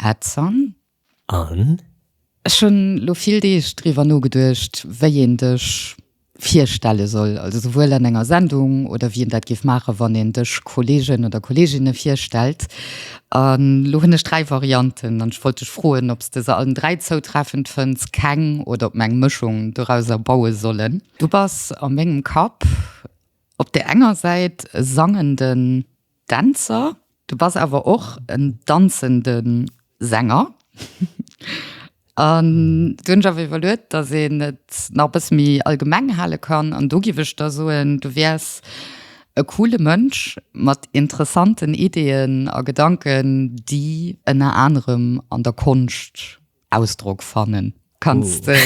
Adzan. An? Ech hunn lo vill Deeg driwwer nogeduecht, wéi een dech virstelle soll, also souwuel an enger Sendung oder wéi een dat géif maachen, wann een dech Kolleegen oder Kolleeginne virstellt. An lo hunn ech dräi Varianten an ech wollt dech froen, ob s de se allen dräi zoutreffend fënns, keng oder ob mer eng Mëschung dorauser baue sollen. Du bass a mengem Kapp op där enger Säit e sangenden. Dänzer, du bass awer och en danzende Sänger. An du hunn ech awer iwwerluet, datt een et nach e bësse méi allgemeng hale kann. An do giff ech der soen, du wäers e coole Mënsch mat interessanten Ideeën a Gedanken, déi ënner anerem an der Konscht. Ausdrock fannen. Kanns de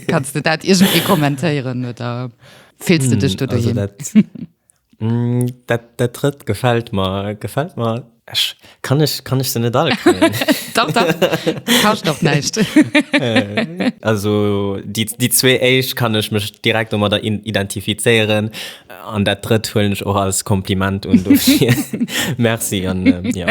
kanns de dat iergendwéi kommentéieren oder fills de dech do also doheem? dat mm, dat dat drëtt gefält mer gefält mer ech kann ech kann ech se net alle kënnen Dach, dach, du kascht dach näischt. also déi déi zwee éischt kann ech mech direkt domadder in identifizéieren An dat drëtt huelen ech och als Kompliment un dofir Merci an jo. Jo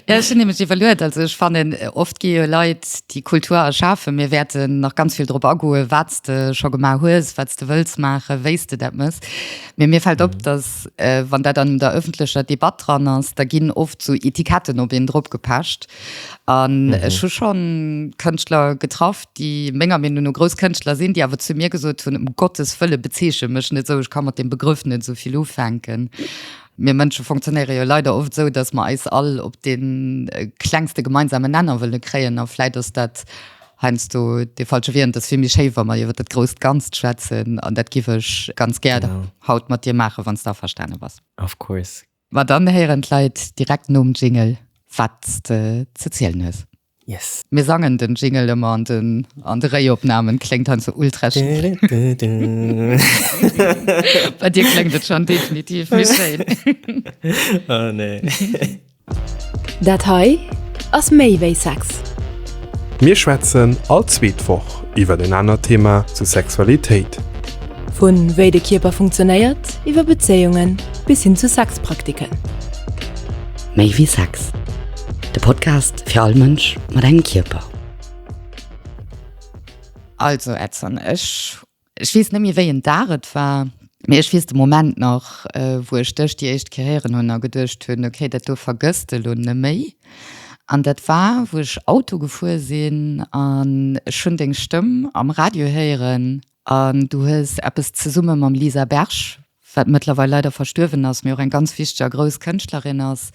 ech hunn nämlech iwwerluet, also ech fannen oft gi jo Leit déi Kultur erschafen, mir wäerten nach ganz vill drop agoen, wat s de scho gemaach hues, wat s de wëlls maachen, wéi s de dat méchs. Mee mir fält op, datt wann dat an der ëffentlecher Debatt dran ass, da ginn oft sou Etiketten op een dropgepecht an ech hu schonn Kënschtler getraff, déi menger Meenung no grouss Kënschtler sinn, déi awer zu mir gesot hunn, Um Gottes Wëlle bezeechent mech net esou, ech ka mat deem Begrëff net esou vill ufänken. Mir Mënsche fonctionnéiere jo leider oft esou, datt mer eis all op dee klengste gemeinsamen Nenner wëlle kréien a vläit ass dat heiansdo dee falsche Wee an et ass vill méi schéi, wa mer iwwer dat grousst Ganzt schwätzen an dat giff ech ganz gär haut mat dir maachen, wann s de averstane bass. Of course. Ma dann héieren d'Leit direkt nom Jingle wat's de ze zielen hues. Yes. Mir sangen den Jingle ëmmer an den an de Réiopnamen, kléngt hei sou ultra schief. Bei dir kléngt et schonn definitiv méi schéin. Oh nee. Dat hei ass méi wéi Sex. Mir schwätzen all zweet Woch iwwer en anert Thema zu Sexualitéit. Vu wéi de Kierper funktionéiert, iwwer Bezéiungen bis hin zu Sexpraktiken. Méi wéi Sex, de Podcast fir all Mënsch mat engem Kierper. Also Edson, ech, ech weess net méi wéi en Dag et war, mee ech weess de Moment nach, wou ech dech déi éischt Kéier héieren hunn a geduecht hunn, okay, dat do vergëss de lo neméi. An dat war wou ech Auto gefuer sinn an ech hunn deng Stëmm am Radio héieren an du hues eppes zesumme mam Lisa Berg, wat mëttlerweil leider verstuerwen ass, mee och eng ganz wichteg a grouss Kënschtlerin ass,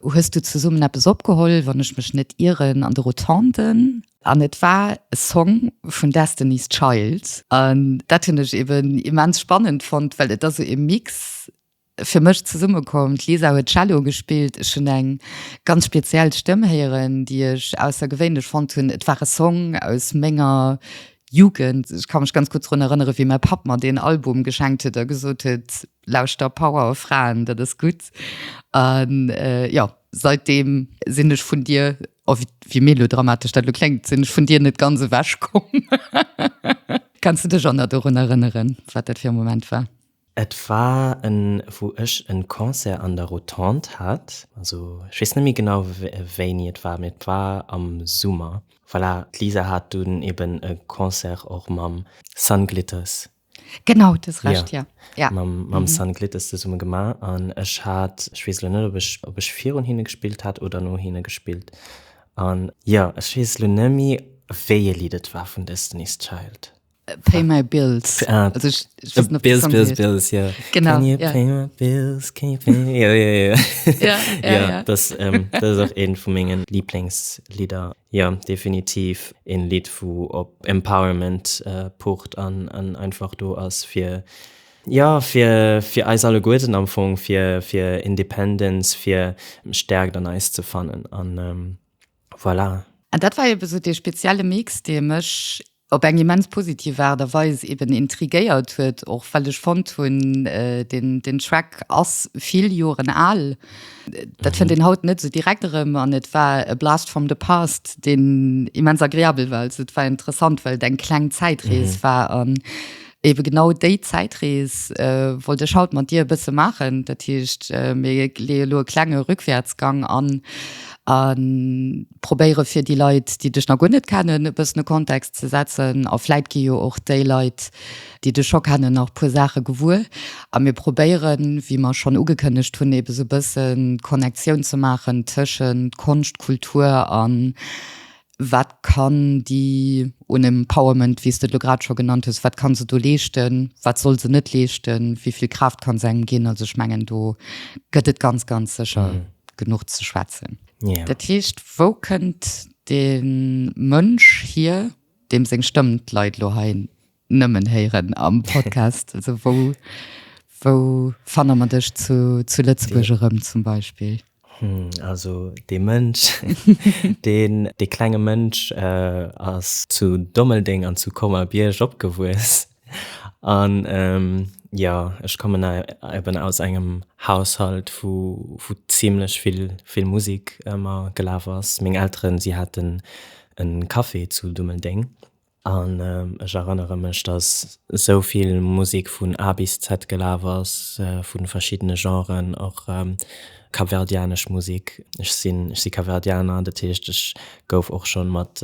hues du zesummen eppes opgeholl, wann ech mech net ieren, an de Rotonden. An et war e Song vun Destiny's Child an dat hunn ech eben immens spannend fonnt, well et ass sou e Mix, fir mech zesummekomm. D'Lisa huet Cello gespillt, ech hunn eng ganz speziell Stëmm héieren, déi ech aussergewéinlech fonnt hunn. Et war e Song aus menger Jugend. Ech ka mech ganz gutt drun erënnere wéi mäi Papp mer deen Album geschenkt huet a gesot huet, Lauschter Power Fraen, dat ass gutt. A jo, säitdeem sinn ech vun dir, o wéi melodramatesch dat elo kléngt, sinn ech vun dir net ganz ewechkomm. Kanns de dech och nach dorun erënneren, wat dat fir e Moment war? Et war en wou ech en Concert an der Rotonde hat, also ech weess net méi genau wéini et war, mee et war am Summer. Voilà, d'Lisa hat dunn eben e Concert och mam Sun Glitters. Genau, du hues Recht, jo, jo. Mam Sun Glitters zesumme gemaach an ech hat, ech weess elo net ob ech virun hinne gespillt hat oder no hinne gespillt an jo, ech weess elo net méi wéi ee Lidd et war vun Destiny's Child. Pay my bills. Ah, also ich, ich weiß nicht, bills, bills, bills, ja. Genau. Can you ja. pay my bills? Can you pay my... Ja, ja, ja. ja, ja, ja, ja. Das, ähm, das ist auch ein von meinen Lieblingslieder. Ja, definitiv ein Lied, wo ob Empowerment äh, pocht an, an einfach du als für Ja fir fir eis alle Guerden am Fong fir fir Independence fir Stärk an eis ze fannen an ähm, Voilà. An dat war eben esou dee spezielle Mix, dee mech op eng immens positiv Aart a Weis eben intriguéiert huet, och well ech fonnt hunn, deen Track ass vill Joren al. Dat fënnt een haut net esou direkt erëm an et war e Blast from the past, deen immens agreabel war. Also et war interessant, well et eng kleng Zäitrees war. Eben genau déi Zäitrees wollt ech haut mat dir e bësse maachen. Dat heescht, mir leeë lo e klenge Rückwärtsgang an a probéiere fir déi Leit, déi dech nach guer net kennen, e bëssen e Kontext ze setzen. A vläit gi jo och déi Leit, déi dech scho kennen, nach e puer Saache gewuer. A mir probéieren, wéi mer schonn ugekënnegt hunn, eben esou e bëssen d'Connectioun ze maachen tëschent Konscht, Kultur an Wat kann déi Unempowerment, wéi s de et elo grad scho genannt hues, wat ka se do leeschten, wat soll se net leeschten, wéi vill Kraaft ka se engem ginn? Also ech mengen, do gëtt et ganz, ganz sécher genuch ze schwätzen. Dat heescht, wou kënnt dee Mënsch hier, deem seng Stëmm d'Leit elo hei Nëmmen héieren am Podcast. Also wou, wou fanne mer dech zu, zu Lëtzebuerg erëm zum Beispill? Hm, also dee Mënsch, deen, dee klenge Mënsch äh, ass zu Dommeldeng an zu Colmar-Bierg opgewuess. An ähm, jo, ech kommen eben aus engem Haushalt, wou, wou zimlech vill, vill Musek ëmmer gelaf ass. Meng Elteren, si haten en Café zu Dummeldeng. An ech erënnere mech, datt esou vill Musek vun A bis Z gelaf ass, vu verschiddene Genren, och kapverdianesch Musek. Ech sinn, ech si Kapverdianer, dat heescht ech gouf och scho mat,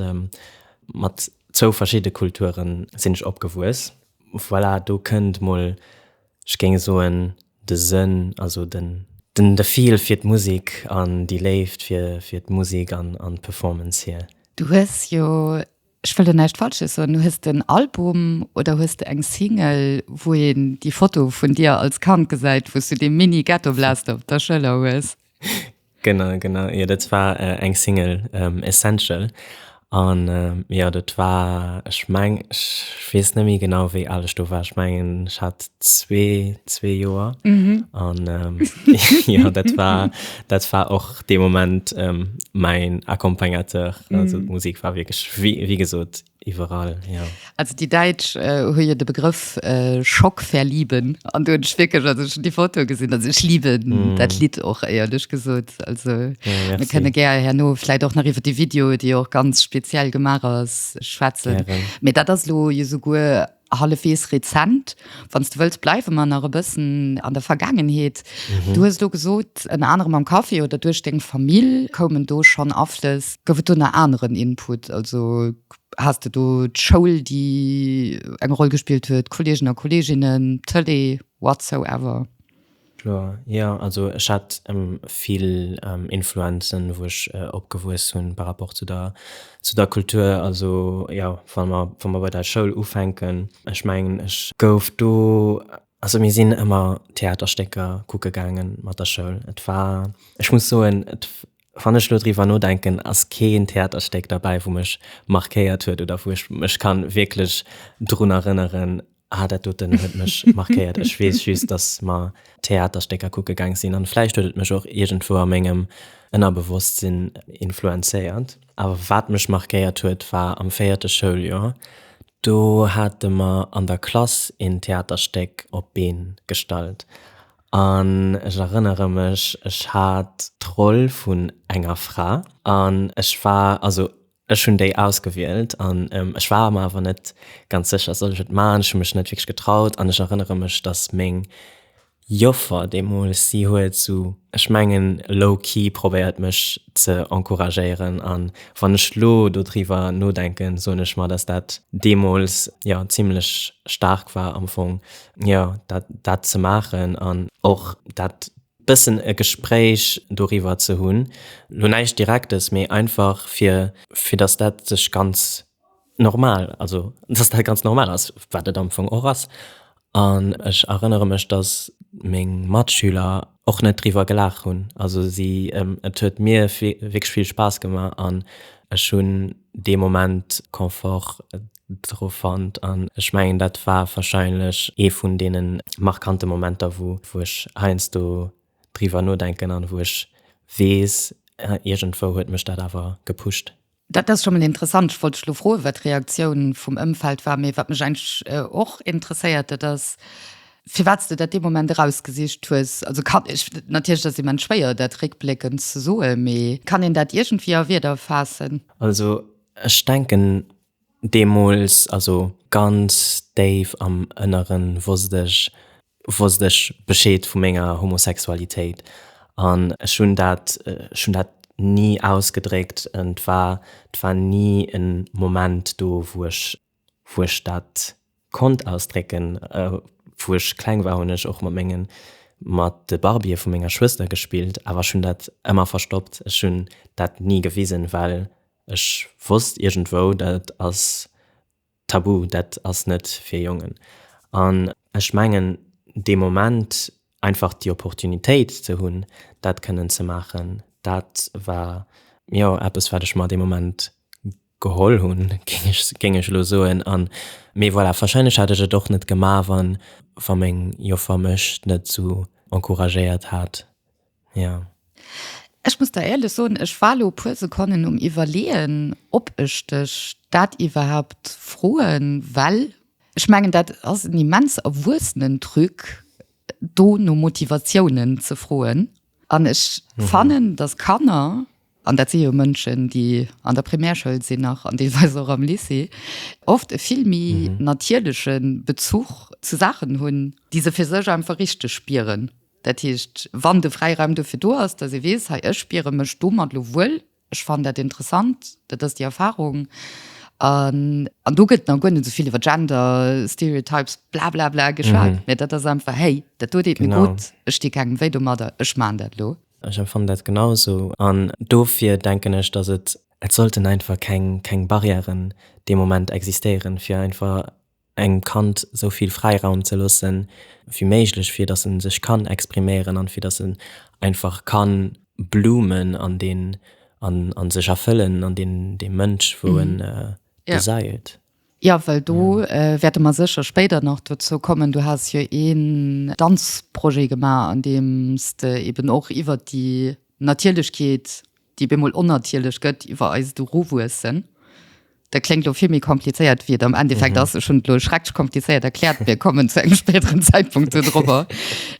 mat zwou verschidde Kulturen sinn ech opgewuess. Voilà, do kënnt mol, ech géing soen, de Sënn, also den, den, de Feel fir d'Musek an déi Léift fir, fir d'Musek an, an d'Performance hier. Du hues jo Ech wëll do näischt Falsches soen. Hues de en Album oder hues de eng Single, wou een déi Foto vun dir als Kand gesäit, wou s du dee Mini-Ghettoblaster op der Schëller hues? Genau, genau. Jo, dat war eng Single, Essential. An jo, dat war, ech mengen, ech weess net méi genau, wéi al ech do war. Ech mengen, ech hat zwee, zwee Joer. An jo, dat war, dat war och. dee Moment ähm, mäin Accompagnateur. Mm. Also d'Musik war wierklech wéi, wéi gesot iwwerall. Ja. Also déi Däitsch äh, hu jo de Begrëff äh, Schock verlieben an du hunch wierklech also schon die Foto gesinn also ich liebe mm. dat Lied och eierlech gesot also ja, mir kënne ger herno vielleicht och nach iwwer die Video, déi och ganz speziell gemar ass schwätzen. Ja, mir dat ass lo je souguer Hallefwees rezent, wann s du wëlls, bleiwe mer nach e bëssen an der Vergaangenheet. Du hues elo gesot, ënner anerem am Café oder duerch deng Famill koumen do schonn Aflëss. Gouf et do nach aneren Input? Also has de do d'Schoul, déi eng Roll gespillt huet, Kolleegen a Kolleeginnen, d'Tëlee, whatsoever? Kloer, jo. Also ech hat vill Influenzen, wou ech opgewuess hunn par rapport zu der zu der Kultur. Also jo, wa mer wa mer bei der Schoul ufänken, ech mengen, ech gouf do, also mir sinn ëmmer Theaterstécker kucke gaange mat der Schoul. Et war, ech muss soen, et Wann ech lo driwwer nodenken, ass keen Theaterstéck derbäi wou mech markéiert huet oder wou ech mech kann wierklech drun erënneren, ah dat doten huet mech markéiert. Ech weess just, dass mer Theaterstécker kucke gaang sinn an vläicht huet et mech och iergendwou a mengem Ënnerbewosstsinn influenzéiert. Awer wat mech markéiert huet war am véierte Schouljoer, do hate mer an der Klass een Theaterstéck op d'Been gestallt An ech erënnere mech, ech hat d'Roll vun enger Fra an ech war, also ech hunn déi ausgewielt an ech war mer awer net ganz sécher, soll ech et man? Ech hu mech net wierklech getraut an ech erënnere mech, datt meng Joffer deemools, si huet esou, ech mengen low-key probéiert mech ze encouragéieren. An wann ech elo do driwwer nodenken, soen ech mer, datt dat deemools, jo, zimmlech staark war am Fong. Jo, dat dat ze maachen an och dat bëssen e Gespréich doriwwer ze hunn. Lo näischt Direktes, mee einfach fir fir datt dat sech ganz normal, also datt dat ganz normal ass, wat et am Fong och ass. An ech erënnere mech, datt meng Matschüler och net driwwer gelaach hunn. Also si et huet mir wierklech vill Spaass gemaach an ech hunn dee Moment Confort dru fonnt an ech mengen dat war warscheinlech ee vun deene markante Momenter wou ech heiansdo driwwer nodenken an wou ech weess, iergendwou huet mech dat awer gepusht. Dat ass schonn mol interessant. Ech wollt dech elo froen, wat d'Reaktioun vum Ëmfeld war. Mee wat mech eigentlech och interesséiert, dat ass, firwat s de dat dee Moment erausgesicht hues. Also kann ech, natierlech ass et immens schwéier, dat réckbléckend ze soen, mee kann een dat iergendwéi a Wierder faassen? Also ech denken. Deemools, also ganz déif am Ënneren, wosst ech, wosst ech Bescheed vu menger Homosexualitéit. An ech hunn dat, ech hunn dat ni ausgedréckt. Et war, et war ni e Moment do, wou ech, wou ech dat Konnt ausdrécken. Wou ech kleng war hunn ech och mat mengen mat de Barbië vu menger Schwëster gespillt, awer ech hunn dat ëmmer verstoppt. Ech hunn dat ni gewisen, well ech wosst iergendwou, dat ass tabu, dat ass net fir Jongen. An ech mengen dee Moment einfach déi Opportunitéit ze hunn, dat kënnen ze maachen, dat war jo eppes, wat ech mer dee Moment Geholl hunn, géing ech elo soen. An, mee voilà, warscheinlech hätt ech et och net gemaach, wann, wa meng Joffer mech net esou encouragéiert hat. Jo. Ech muss der éierlech soen, ech war elo e puer Sekonnen um Iwwerleeën, ob ech dech dat iwwerhaapt froen, well ech mengen, dat ass en immens erwuessenen Truc, do no Motivatiounen ze froen. An ech fannen, dass Kanner, an dat si jo Mënschen, déi an der Primärschoul sinn nach an deelweis och am Lycée, oft e vill méi natierleche Bezuch zu Saachen hunn, déi se fir sech einfach richteg spieren. Dat heescht, wann de Fräiraum dofir do ass, dass ee weess, hei, ech spiere mech domat elo wuel, Ech fannen dat interessant, dat ass déi Erfahrung. An, an do gëtt nach guer net esou vill iwwer Gender, Stereotypes, blablabla geschwat, mä dat ass einfach, Hey, dat do deet mir gutt, ech di kengem wéi domadder, ech maachen dat elo. Ech empfannen dat genausou. An dofir denken ech, datt et sollten einfach keng Barrièren dee Moment existéieren, fir einfach engem Kand sou vill Fräiraum ze loosse wéi méiglech, fir datt e sech kann expriméieren an fir datt en einfach ka bloomen an deen an a sech erfëllen an deen dee Mënsch wou en gesäit. Jo, well do wäerte mer sécher spéider nach dozou kommen. Du has jo een Danzprojet gemaach, an deem s de eeben och iwwert déi Natierlechkeet déi bemol onnatierlech gëtt iwwer eist Eruwuessen, da kléngt elo vill méi komplizéiert, wéi et am Endeffekt ass. Ech hunn et elo schrecklech komplizéiert erkläert. Mir kommen zu engem spéideren Zäitpunkt do drop,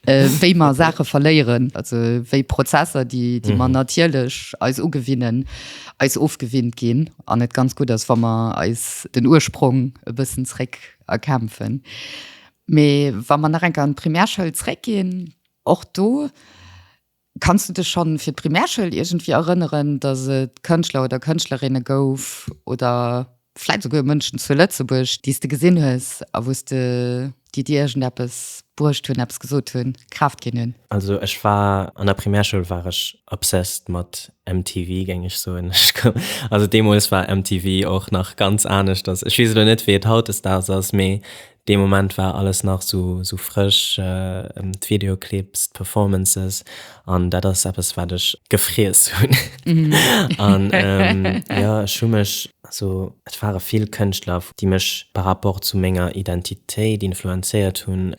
wéi mer Saache verléieren, also wéi Prozesser, déi mer natierlech eis ugewinnen, eis ofgewinnt ginn an et ganz gutt ass, wa mer eis den Ursprong e bëssen zréck erkämpfen. Mee wa mer nach eng Kéier an d'Primärschoul zréckginn, och do, Kanns du dech schonn fir d'Primärschoul iergendwéi erënneren, dass et Kënschtler oder Kënschtlerinne gouf oder vläit souguer Mënschen zu Lëtzebuerg, déi s de gesinn hues a wou s de, déi dir iergendeppes bruecht hunn, eppes gesot hunn, Kraaft ginn hunn? Also ech war an der Primärschoul war ech obsessed mat MTV, géing ech soen. Ech koum, also deemools war MTV och nach ganz aneschters. Ech weess elo net, wéi et hautdesdaags ass, mee Dee Moment war alles nach sou frësch, d'Videoclips, d'Performances, an dat ass eppes wat ech gefriess hunn. An jo, ech hu mech, also et ware vill Kënschtler, déi mech par rapport zu menger Identitéit influenzéiert hunn.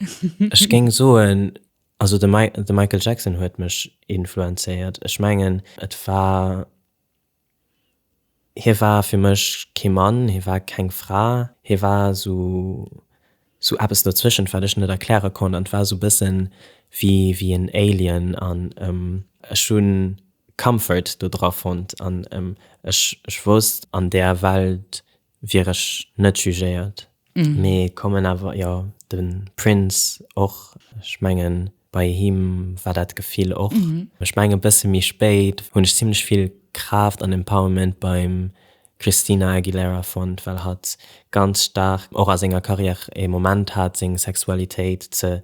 Ech géing soen, also de Michael Jackson huet mech influenzéiert, ech mengen et war, Hie war fir mech kee Mann, hie war keng Fra, hie war esou eppes dozwëschent, wat ech net erkläre konnt. An et war esou bësse wéi en Alien. An ech hu Comfort dodra fonnt an ech wousst, an där Welt wier ech net jugéiert mee kommen awer jo den Prince och ech mengen bei him war dat Gefill och ech mengen e bësse méi spéit hunn ech zimlech vill Kraaft an Empowerment beim Christina Aguilera fonnt well hatt ganz staark och a senger Carrière ee Moment hat seng Sexualitéit ze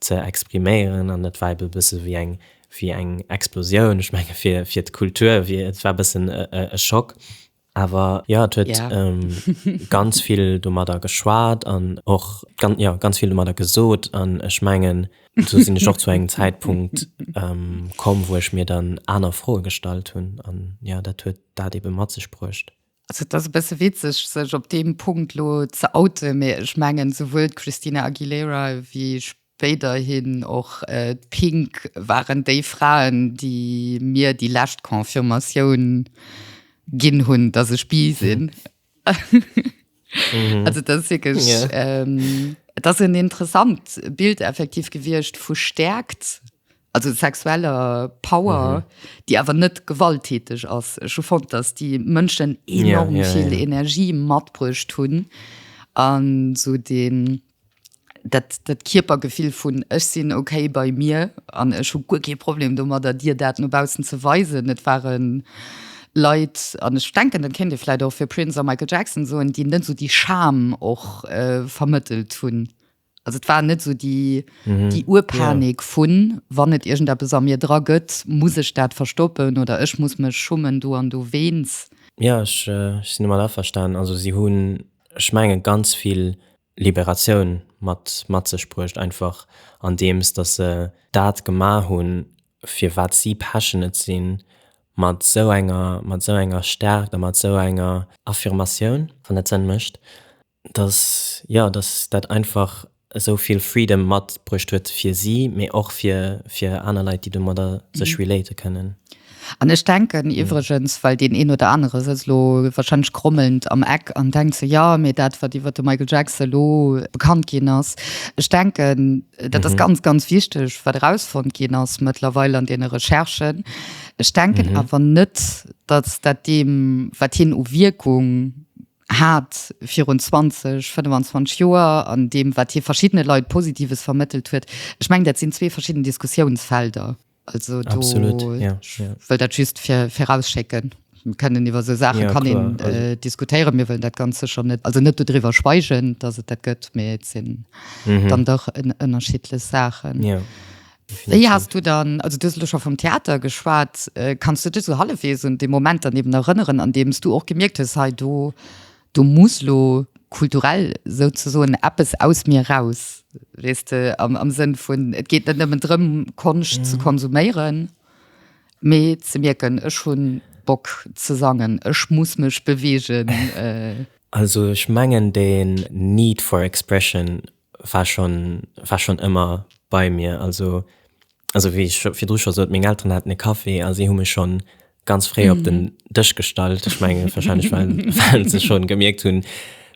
ze expriméieren an et war ebe bësse wéi eng wéi eng Explosioun ech menge fir fir d'Kultur wier et war bëssen e Schock Awer jo, et huet ganz vill domadder geschwat an och ganz vill domadder gesot. An ech mengen, esou sinn ech och zu engem Zäitpunkt komm, wou ech mir dann aner Froe gestallt hunn. An jo, dat huet dat ebe mat sech bruecht. Also et ass e bësse witzeg, sech op deem Punkt elo ze outen, mee ech mengen, souwuel d'Christina Aguilera wéi Wéiderhin och d'Pink waren déi Fraen, déi mir déi lescht Confirmatioun ginn hunn, dass ech bi sinn. Also dat ass wierklech, et ass en interessant Bild effektiv gewiescht vu Stärkt, also sexueller Power, déi awer net gewalttäteg ass. Ech hu fonnt, dass déi Mënschen enorm vill Energie matbruecht hunn an esou dee. Dat, dat Kierpergefill vun, Ech sinn okay bei mir an ech hu guer kee Problem domadder, dir dat no baussen ze weisen. Et ware Leit, an ech denken, dat kéint ee vläicht och fir Prince a Michael Jackson soen, déi net esou déi Scham och vermëttelt hunn. Also et war net esou déi, déi Urpanik vu wann et iergendeppes a mir dra gëtt, muss ech dat verstoppen oder ech muss mech schummen do an dowéinst. Jo, ech sinn domat averstanen. Also si hunn ech mengen ganz vill Liberatioun mat mat sech bruecht einfach an deems dass se dat gemaach hunn fir wat si passionate sinn mat esou enger mat esou enger Stärkt a mat esou enger Affirmatioun, wann dat Sënn mécht, dass jo dass dat einfach esou vill Freedom mat bruecht huet fir si, mee och fir fir aner Leit déi domadder sech relaten kënnen. An ech denken iwwregens, well deen een oder anere sëtzt elo wahrscheinlech grommelnd am Eck an denkt sou, jo mee dat wat iwwert de Michael Jackson elo bekannt ginn ass, ech denken dat ass ganz ganz wichteg wat erausfonnt ginn ass mëttlerweil an deene Recherchen, ech denken awer net datt dat deem wat hien u Wierkung, hat virun 20, 25 Joer an deem, wat hie verschiddene Leit Positives vermëttelt huet. Ech mengen, dat sinn zwee verschidden Diskussiounsfelder. Also do wëll dat just virausschécken. Mir kënnen iwwer esou Saache kann een diskutéieren. Mir wëllen dat ganz sécher net, also net dodriwwer schweigen, datt et dat gëtt, mee et sinn dann dach ënnerschiddlech Saachen. Wéi has du dann, also du hues elo scho vum Theater geschwat, kanns du dech esou hallefwegs un dee Moment dann eben erënneren, an deem s du och gemierkt hues, hei do, do muss lo kulturell souzesoen eppes aus mir raus, weess de, am Sënn vun, et geet net nëmmen drëm Konscht ze konsuméieren, mee ze mierken, ech hu Bock ze sangen, ech muss mech beweegen? Also ech mengen deen need for expression, war schon war schon ëmmer bei mir also also wéi ech scho virdru scho sot meng Elteren haten e Café a si hu mech schon ganz fréi op den Dësch gestallt ech menge wahrscheinlech well well se schon gemierkt hunn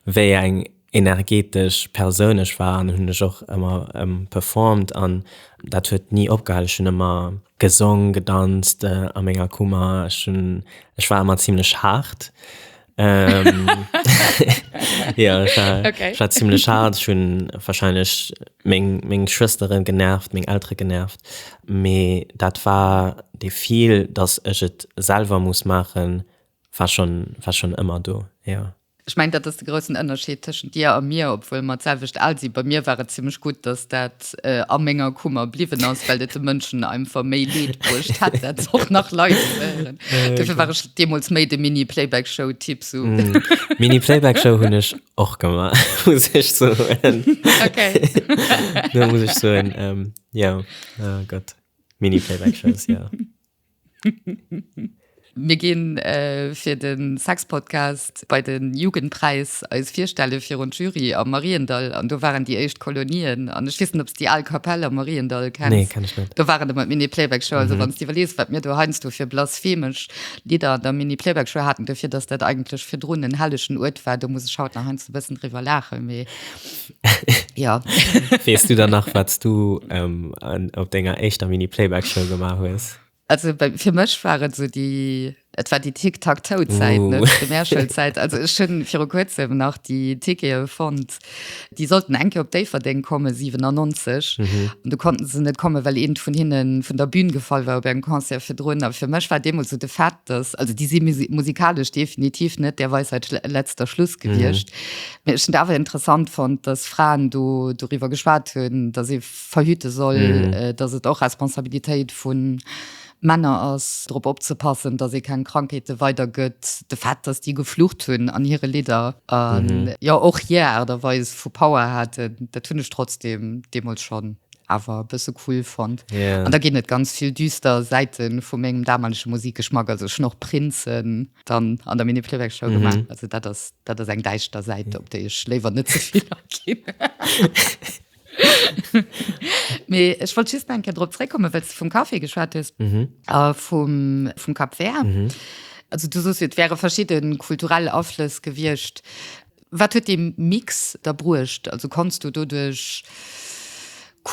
wéi eng energetesch Persoun ech war an hunn ech och ëmmer performt an dat huet ni opgehal ech hunn ëmmer gesong gedanzt a menger Kummer ech hunn ech war ëmmer zimlech haart ähm, ja, ich war, okay. ich war ziemlich hart. Ich habe wahrscheinlich meine, meine Schwestern genervt, meine Eltern genervt. Aber das war der Gefühl, dass ich es selber muss machen, war schon, war schon immer da. Ja. Ich meine, das ist der große Unterschied zwischen dir und mir, obwohl wir dasselbe alt sind. Bei mir war es ziemlich gut, dass das a menger Kummer bliwwen ass, well et de Mënschen einfach méi Leed bruecht hätt, dat se och nach live wieren. Dofir war ech deemools méi de Mini-Playback-Show-Typ. Mini-Playback-Show hunn ech och gemaach, muss ech soen. Do muss ech soen, jo, oh Gott, Mini-Playback-Shows, jo. Mir ginn fir de Sexpodcast bei de Jugendpräis eis virstelle virun d'Jury am Mariendall. An do waren déi éischt Kolonien. An ech weess net, ob s de déi al Kapell am Mariendall kenns? Nee, kenn ech net. Do waren ëmmer d'Mini-Playback-Show. Also wann s de iwwerlees, wat mir do heiansdo fir blasphemesch Lidder an der Mini-Playback-Show haten, dofir datt dat eigentlech virdrun en hellegen Uert war, do muss ech haut nach heiansdo e bëssen driwwer laachen. Mee. ja west du dann nach was du ähm, an, op denger echter mini playback show gemacht hast also für mich waren so die Et war die Tick tak to Zeit uh. Mäschelzeit also schon vir kurzem nach die Tike fand die sollten enke op Dave den komme 97 mhm. und du konnten sie net komme weil eben von hinnen von der Bühne gefallen war beim Konzer für drin aber für mech war dem so de fat das also die sie musikalisch definitiv net der Weisheit letzter Schluss gewircht Ech hunn et awer interessant fonnt, dass Fraen do doriwwer geschwat hunn, dass ee verhüte soll, dass et och Responsabilitéit vu Männer ass, drop opzepassen, dass ee keng Krankheete weidergëtt. De Fait, dass déi geflucht hunn an hire Lidder a jo och hir Aart a Weis vu Power haten, dat hunn ech trotzdeem deemools schonn awer e bësse cool fonnt. An da ginn et ganz vill düster Säite vu mengem damalege Musikgeschmack, also ech hunn och Prince dann an der Mini Playback Show gemacht. Mhm. Also dat ass, dat ass eng däischter Säit, op déi ech léiwer net ze vill aginn. Mee ech wollt just enke drop zréckkomme, well s de vum Kaffee geschwat hues mhm. äh, vum, vum Kap Ver. Mhm. Also du sos, et wäre verschidde kulturell Aflëss gewiecht. Wat huet dee Mix da bruecht? Also konns du doduerch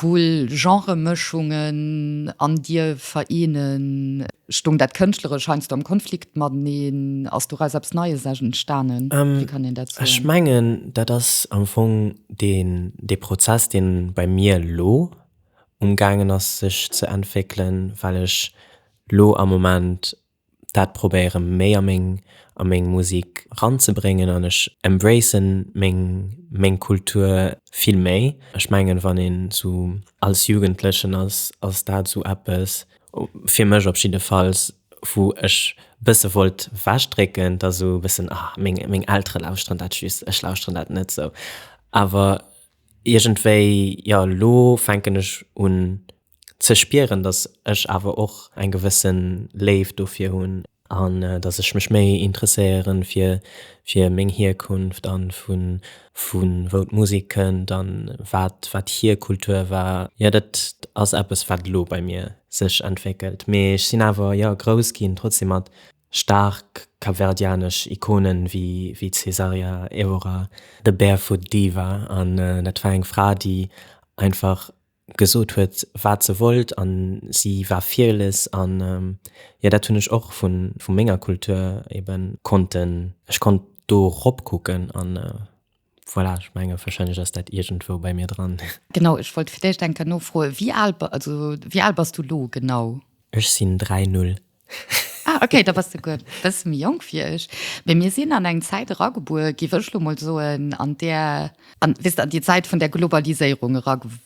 cool Genremëschungen an dir vereenen? Stoung dat Kënschtleresch heiansdo am Konflikt mateneen? Ass doraus eppes Neies entstanen? Wéi kann een dat soen? Ech mengen, dat ass am Fong dee Prozess, dee bei mir elo umgaangen ass sech ze entwéckelen, well ech elo am Moment dat probéiere méi a meng a meng Musik ranzebréngen an ech embracen meng meng Kultur vill méi. Ech mengen wann een sou als Jugendlechen ass ass dat sou eppes, fir mech op jiddefalls, wou ech bësse wollt wech drécken, dass sou e bëssen ah meng meng Eltere lauschteren dat just, ech lauschteren dat net sou. Awer iergendwéi jo, elo fänken ech un ze spieren, dass ech awer och eng gewësse Léift dofir hunn an dass ech mech méi interesséieren fir fir meng Hierkunft an vun vun wou d'Musek kënnt an wat wat hier Kultur war. Jo dat ass eppes wat elo bei mir sech entwéckelt, mee ech sinn awer jo grouss ginn trotzdem mat staark kapverdianesch Ikonen wéi wéi d'Cesaria Evora, The Barefoot Diva an dat war eng Fra déi einfach gesot huet waat se wollt an si war fearless an jo daat hun ech och vun vun menger Kultur eben konnten ech konnt do rop kucken an voilà ech menge wahrscheinlech ass daat iergendwou bei mir dran. Genau ech wollt fir d'éischt eng Kéier nofroen wéi aal also wéi aal bass du lo genau? Ech sin 3 null Ah, okay, da bass de guer e bësse méi jonk wéi ech. Mee mir sinn an eng Zäit eragebuer, géif ech lo mol soen, an där, an, weess de, an déi Zäit vun der Globaliséierung eragew,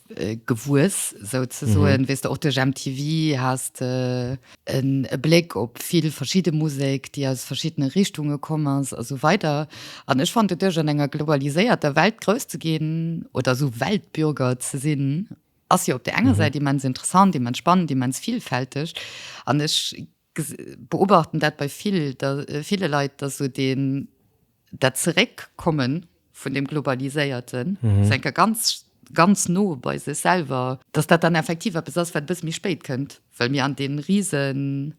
gewuess, sou ze soen, weess de, och duerch MTV has de en e Bléck op vill verschidde Musek, déi aus verschiddene Richtunge komm ass a sou weider. An ech fannen doduerch an enger globaliséierter Welt grouss ze ginn oder sou Weltbürger ze sinn, ass jo op der enger Säit immens interessant, immens spannend, immens vielfälteg an ech beobachten dat bei vill, ville Leit, dat so den dat Zeréckkommen vun dem Globaliséierten mhm. se enker ganz ganz no bei se selber, dass dat dann effektiv eppes ass, wat bis méi spéit kënnt, well mir an den riesen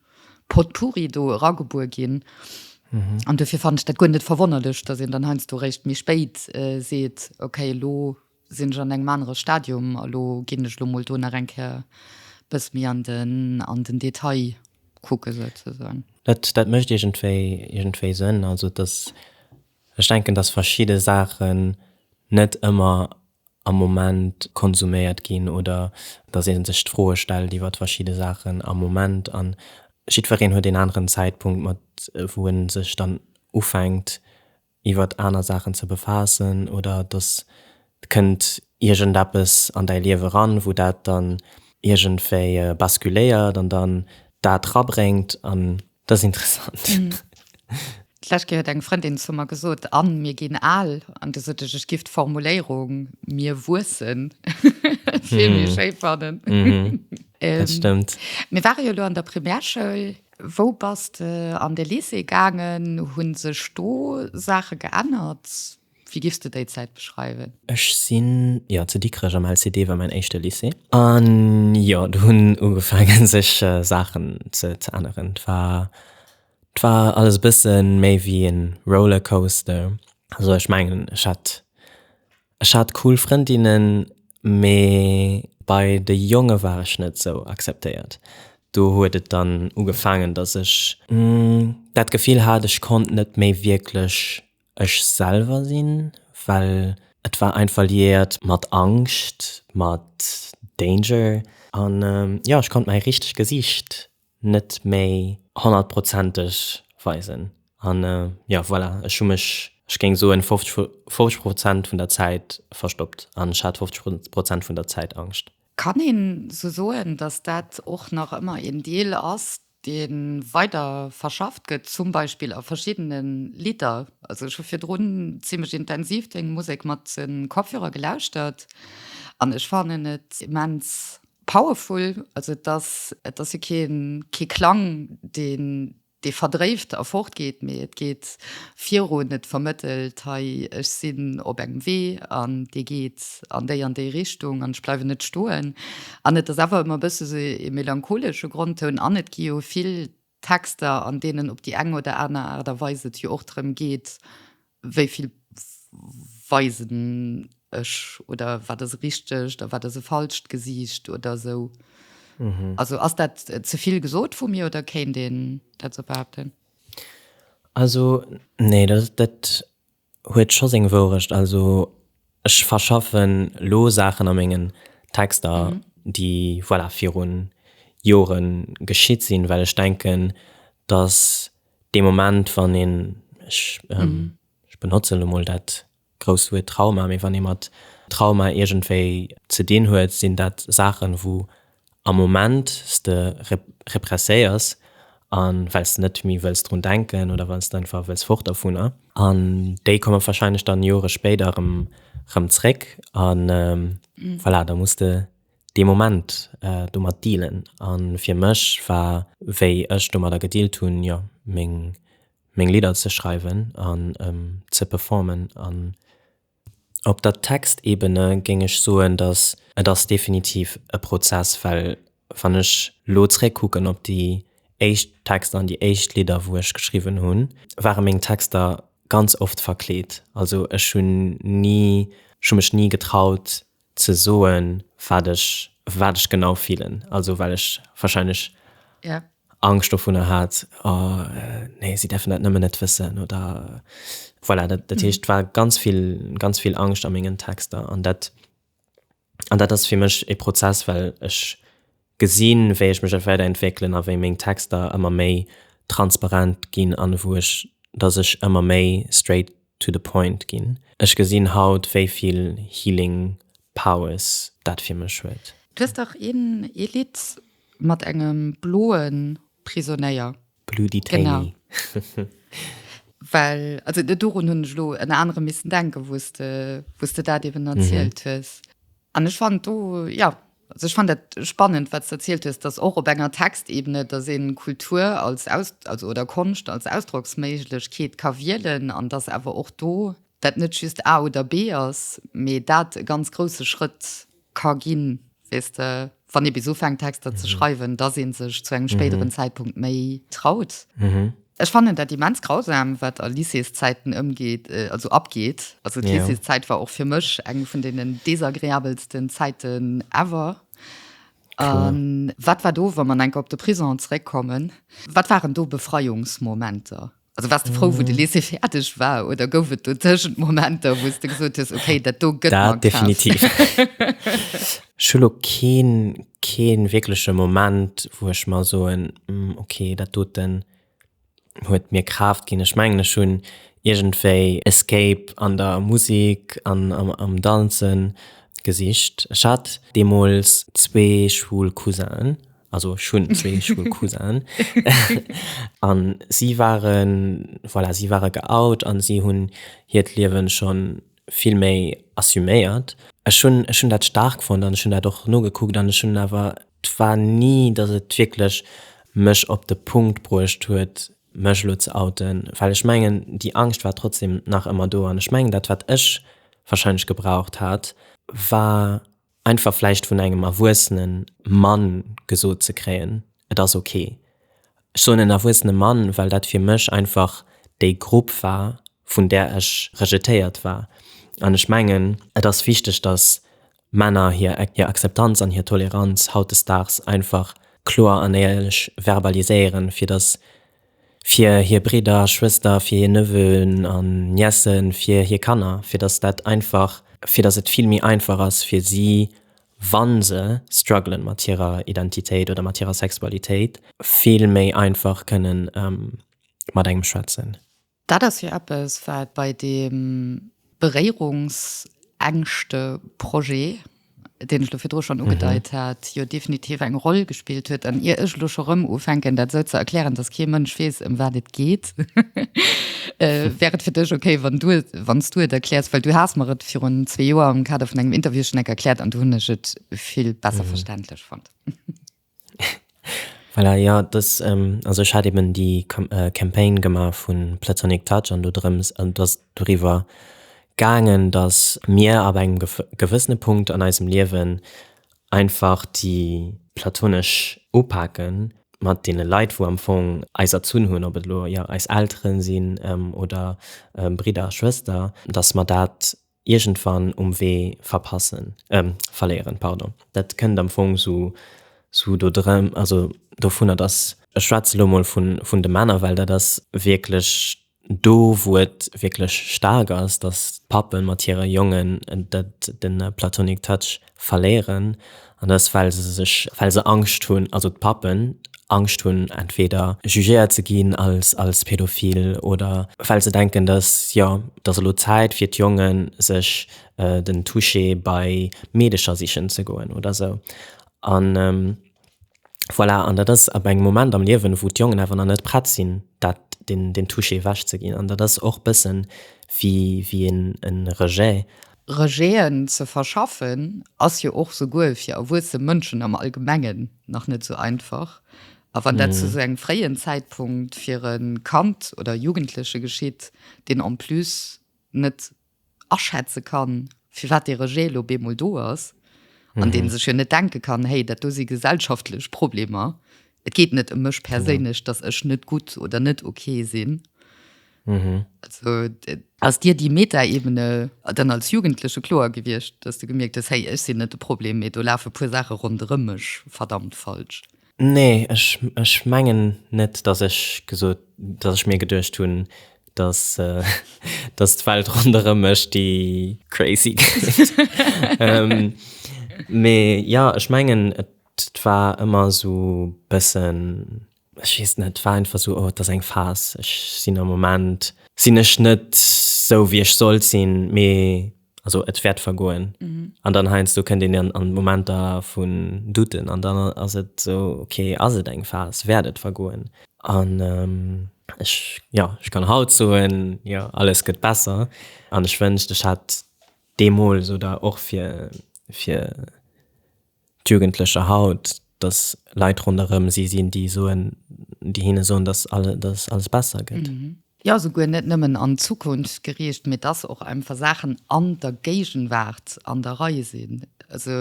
Potpourri do ragebuer ginn. Mhm. An dofir fand ich dat gun net verwonnerlech, dat en dann heinsst du recht mi spéit äh, seet okay lo Sinn ech an engem anere Stadium a lo ginn ech lo mol do nach eng Kéier e bëss méi an den, an den Detail kucke souzesoen. Dat, dat mécht iergendwéi, iergendwéi Sënn. Also dass, ech denken, dass verschidde Saachen net ëmmer am Moment konsuméiert ginn oder dass ee sech d'Froe stellt iwwer verschidde Saachen am Moment. A jiddwereen huet een aneren Zäitpunkt, mat wou e sech dann ufänkt iwwert aner Saachen ze befaassen oder dass kënnt iergendeppes an däi Liewe ran, wou dat dann iergendwéi basculéiert an dann dat rabréngt an dat ass interessant. D'lescht Kéier huet eng Frëndin zu mer gesot, Anne, mir ginn al. An du sot ech, ech giff d'Formuléierung mir wuessen vill méi schéi fannen. Dat stëmmt. Mir ware jo elo an der Primärschoul. Wou bass de an de Lycée gaangen? Hu sech do Saache geännert? Wéi giffs de déi Zäit beschreiwen? Ech sinn, jo, zu Dikrech am LCD war mäin éischte Lycée. An jo, do hunn ugefaange sech Saachen ze änneren. 't war, 't war alles e bësse méi wéi e Rollercoaster. Also ech mengen, ech hat Ech hat cool Frëndinnen, mee bei de Jonge war ech net sou akzeptéiert. Do huet et dann ugefaangen, dass ech dat Gefill hat, ech konnt net méi wierklech ech selwer sinn, well et war einfach liiert mat Angscht, mat Danger an jo, ech konnt mäi richtegt Gesiicht net méi honnertprozenteg weisen. An jo, voilà, ech hu mech, ech géing soen, 50 Prozent vun der Zäit verstoppt an ech hat 50 Prozent vun der Zäit Angscht. Kann een sou soen, dass dat och nach ëmmer een Deel ass, dee weider verschafft gëtt, zum Beispill a verschiddene Lidder? Also ech hu virdrun zimlech intensiv deng Musek mat Kopfhörer gelauschtert an ech fannen et immens Powerful, also et ass, et ass jo keen, kee Klang, deen, dee verdréift a fortgeet, mee et geet virun, et vermëttelt, hei, ech sinn op engem Wee an dee geet an déi an déi Richtung an ech bleiwen net stoen. An et ass awer ëmmer e bësse sou ee melancholesche Grondtoun an et gi jo vill Texter, an deenen op déi eng oder aner Aart a Weis et jo och drëm geet, wéi vill weisen ech oder wat ass e richtegt a wat ass e falscht Gesiicht oder esou. Also ass dat ze vill gesot vu mir oder kéint een dat esou behaupten? Also, nee, dat. Huet scho seng Wourecht. Also ech verschaffen lo Saachen a mengen Texter, déi voilà viru Jore geschitt sinn, well ech denken, datt dee Moment, wann een, ech benotzen elo mol dat grousst Wuert Trauma, mee wann ee mat Trauma iergendwéi ze dinn huet, sinn dat Saachen, wou Am Moment s de represséiers an well s net méi wëlls drun denken oder well s einfach wëlls fort dervunner. An déi komme wahrscheinlech dann Jore spéider erëm zréck a voilà, da muss de dee Moment domat dealen. A fir mech war, wéi ech domadder gedealt hunn, jo meng Lidder ze schreiwen an ze performen. Op der Textebene géing ech soen, datt et ass definitiv e Prozess, well wann ech elo zréckkucken op déi éischt Texter an déi éischt Lidder, wou ech geschriwwen hunn, ware meng Texter ganz oft verkleet. Also ech hunn ni, ech hu mech ni getraut ze soen, wat ech, wat ech genau fillen, also well ech warscheinlech Angscht dovunner hat, oh nee, si däerfen dat nëmmen net wëssen oder voilà. Dat, dat heescht, war ganz vill, ganz vill Angscht a mengen Texter an dat, an dat ass fir mech e Prozess, well ech gesinn, wéi ech mech elo wäit entwéckelen a wéi meng Texter ëmmer méi transparent ginn an wou ech, datt ech ëmmer méi straight to the point ginn. Ech gesinn haut wéi vill healing powers dat fir mech huet. Du hues dach een ee Lidd mat engem bloen Prisonéier. Blue Detainee. Genau. Well also dorun hunn ech elo ënner anerem missen denken wou s de dat eben erzielt hues. An ech fand do, jo, also ech fand dat spannend, wat s de erzielt hues, dass och op enger Textebene, dass een Kultur als Aus, also oder Konscht als Ausdrocksméiglechkeet ka wielen an dass awer och do dat net just A oder B ass, mee dat e ganz grouse Schrëtt ka ginn, weess de. wann ee bis ufänkt Texter ze schreiwen, dass ee sech zu engem spéideren Zäitpunkt méi traut. Ech fannen dat immens grausam, wat a Lycéeszäiten ëmgeet, also abgeet. Also d'Lycéeszäit war och fir mech eng vun deenen desagreabelsten Zäiten ever. Wat war do, wa mer enker op de Prisong zeréckkommen, wat waren do Befreiungsmomenter? Also wars de frou wou de Lycée fäerdeg war oder gouf et dotëschent Momenter wou s de gesot hues, okay dat do gëtt mer Dat krass. definitiv. Ech hu lo keen, keen wierkleche Moment wou ech mer soen, okay dat doten huet mir Kraaft ginn. Ech mengen ech hunn iergendwéi Escape an der Musik an am Danzen gesicht. Ech hat deemools zwee schwul Cousinen also ech hunn zwee Schoulcousin an si waren voilà, si ware geout an si hunn hiert Liewen schonn vill méi assuméiert. Ech hunn ech hunn dat staark fonnt an ech hunn dat och nogekuckt an ech hunn awer et war ni, datt et wierklech mech op de Punkt bruecht huet mech elo ze outen, well ech mengen déi Angscht war trotzdem nach ëmmer do an ech mengen dat wat ech wahrscheinlech gebraucht hat war, Einfach vläicht vun engem erwuessene Mann gesot ze kréien, et ass ok. Ech soen en erwuessene Mann, well dat fir mech einfach déi Grupp war, vun där ech rejetéiert war. An ech mengen, et ass wichteg, datt Männer hir Akzeptanz an hir Toleranz hautdesdaags einfach kloer an éierlech verbaliséieren, fir datt fir hir Bridder a Schwëster, fir hir Neveu'en an Niècen, fir hir Kanner, fir dass dat einfach, fir dass et vill méi einfach ass fir si, wa se strugglen mat hirer Identitéit oder mat hirer Sexualitéit, vill méi einfach kënnen mat engem schwätzen. Dat ass jo eppes, wat bei deem. Beréierungsängschte Projet, deen ech elo virdru schonn ugedeit hat, jo definitiv eng Roll gespillt huet. An ier ech elo scho rëm ufänken, dat esou ze erklären, dass kee Mënsch weess, ëm wat et geet, wär et fir dech okay, wann du, wann s du et erkläers, well du has mer et virun zwee Joer am Kader vun engem Interview schonn enk erkläert an do hunn ech et vill besser verständlech fonnt. Voilà, jo, dës, also ech hat eben déi Campagne gemaach vu Platonic Touch an do drëms, an et ass doriwwer gaangen, datt mir ab engem gewëssene Punkt an eisem Liewen einfach déi platonesch Upake mat deene Leit, wou am Fong eis erzunn hunn, ob et elo, jo, eis Elteren sinn oder Bridder a Schwëster, datt mer dat iergendwann um Wee verpassen, euh, verléieren, pardon. Dat kënnt am Fong sou, sou do drëm, also dovunner, dass, ech schwätze lo mol vun, vun de Männer, well dat ass wierklech do, wou et wierklech staark ass, dass d'Pappe mat hire Jongen dat, de platonic touch Verléieren an dat ass well se sech well se Angscht hunn, also d'Pappen Angscht hunn entweder jugéiert ze ginn als als pädophil oder well se denken, datt jo datt elo d'Zäit fir d'Jongen sech den Touché bei Meedecher sichen ze goen oder esou an. Voilà, an dat ass ab engem Moment am Liewen, wou d'Jongen awer nach net prett sinn, dat, deen, deen Touché ewech ze ginn. An dat ass och bëssen wéi, wéi en, e Rejet. Rejeten ze verschaffen ass jo och souguer fir erwuesse Mënschen am Allgemengen nach net esou einfach. A wann dat zu esou engem fréien Zäitpunkt fir e Kand oder e Jugendleche geschitt, deen en plus net aschätze kann, firwat dee Rejet elo bemol do ass, an dee sech jo net denke kann, Hey, dat do si gesellschaftlech Problemer, et geet net ëm mech perséinlech, datt ech net gutt oder net ok sinn. Also ass dir déi Metaebene dann als Jugendleche kloer gewiescht, datt s de gemierkt hues, Hey, ech sinn net de Problem, mee do lafe puer Saache ronderëm mech verdammt falsch? Nee, ech, ech mengen net, datt ech gesot, datt ech mir geduecht hunn, datt, datt d'Welt ronderëm mech déi crazy kritt. Mee jo, ech mengen, et war ëmmer esou e bëssen, ech weess net, et war einfach esou, oh, et ass eng Phas, ech sinn am Moment, sinn ech net esou, wéi ech sollt sinn, mee also et wäert vergoen mhm. an dann heinz du könnt den an Momenter vun duten an dann as et so okay as et eng Phas werdet vergoen an ähm, ich, ja ich kann haut soen ja alles gëtt besser an ich wëncht ich hat demol so da och fir fir d'Jugendlecher haut, dass Leit ronderëm si sinn, déi soen, déi hinne soen, dass alles besser gëtt. Jo, souguer net nëmmen an d'Zukunft geriicht, mee dass och einfach Saachen an der Géigenwaart an der Rei sinn. Also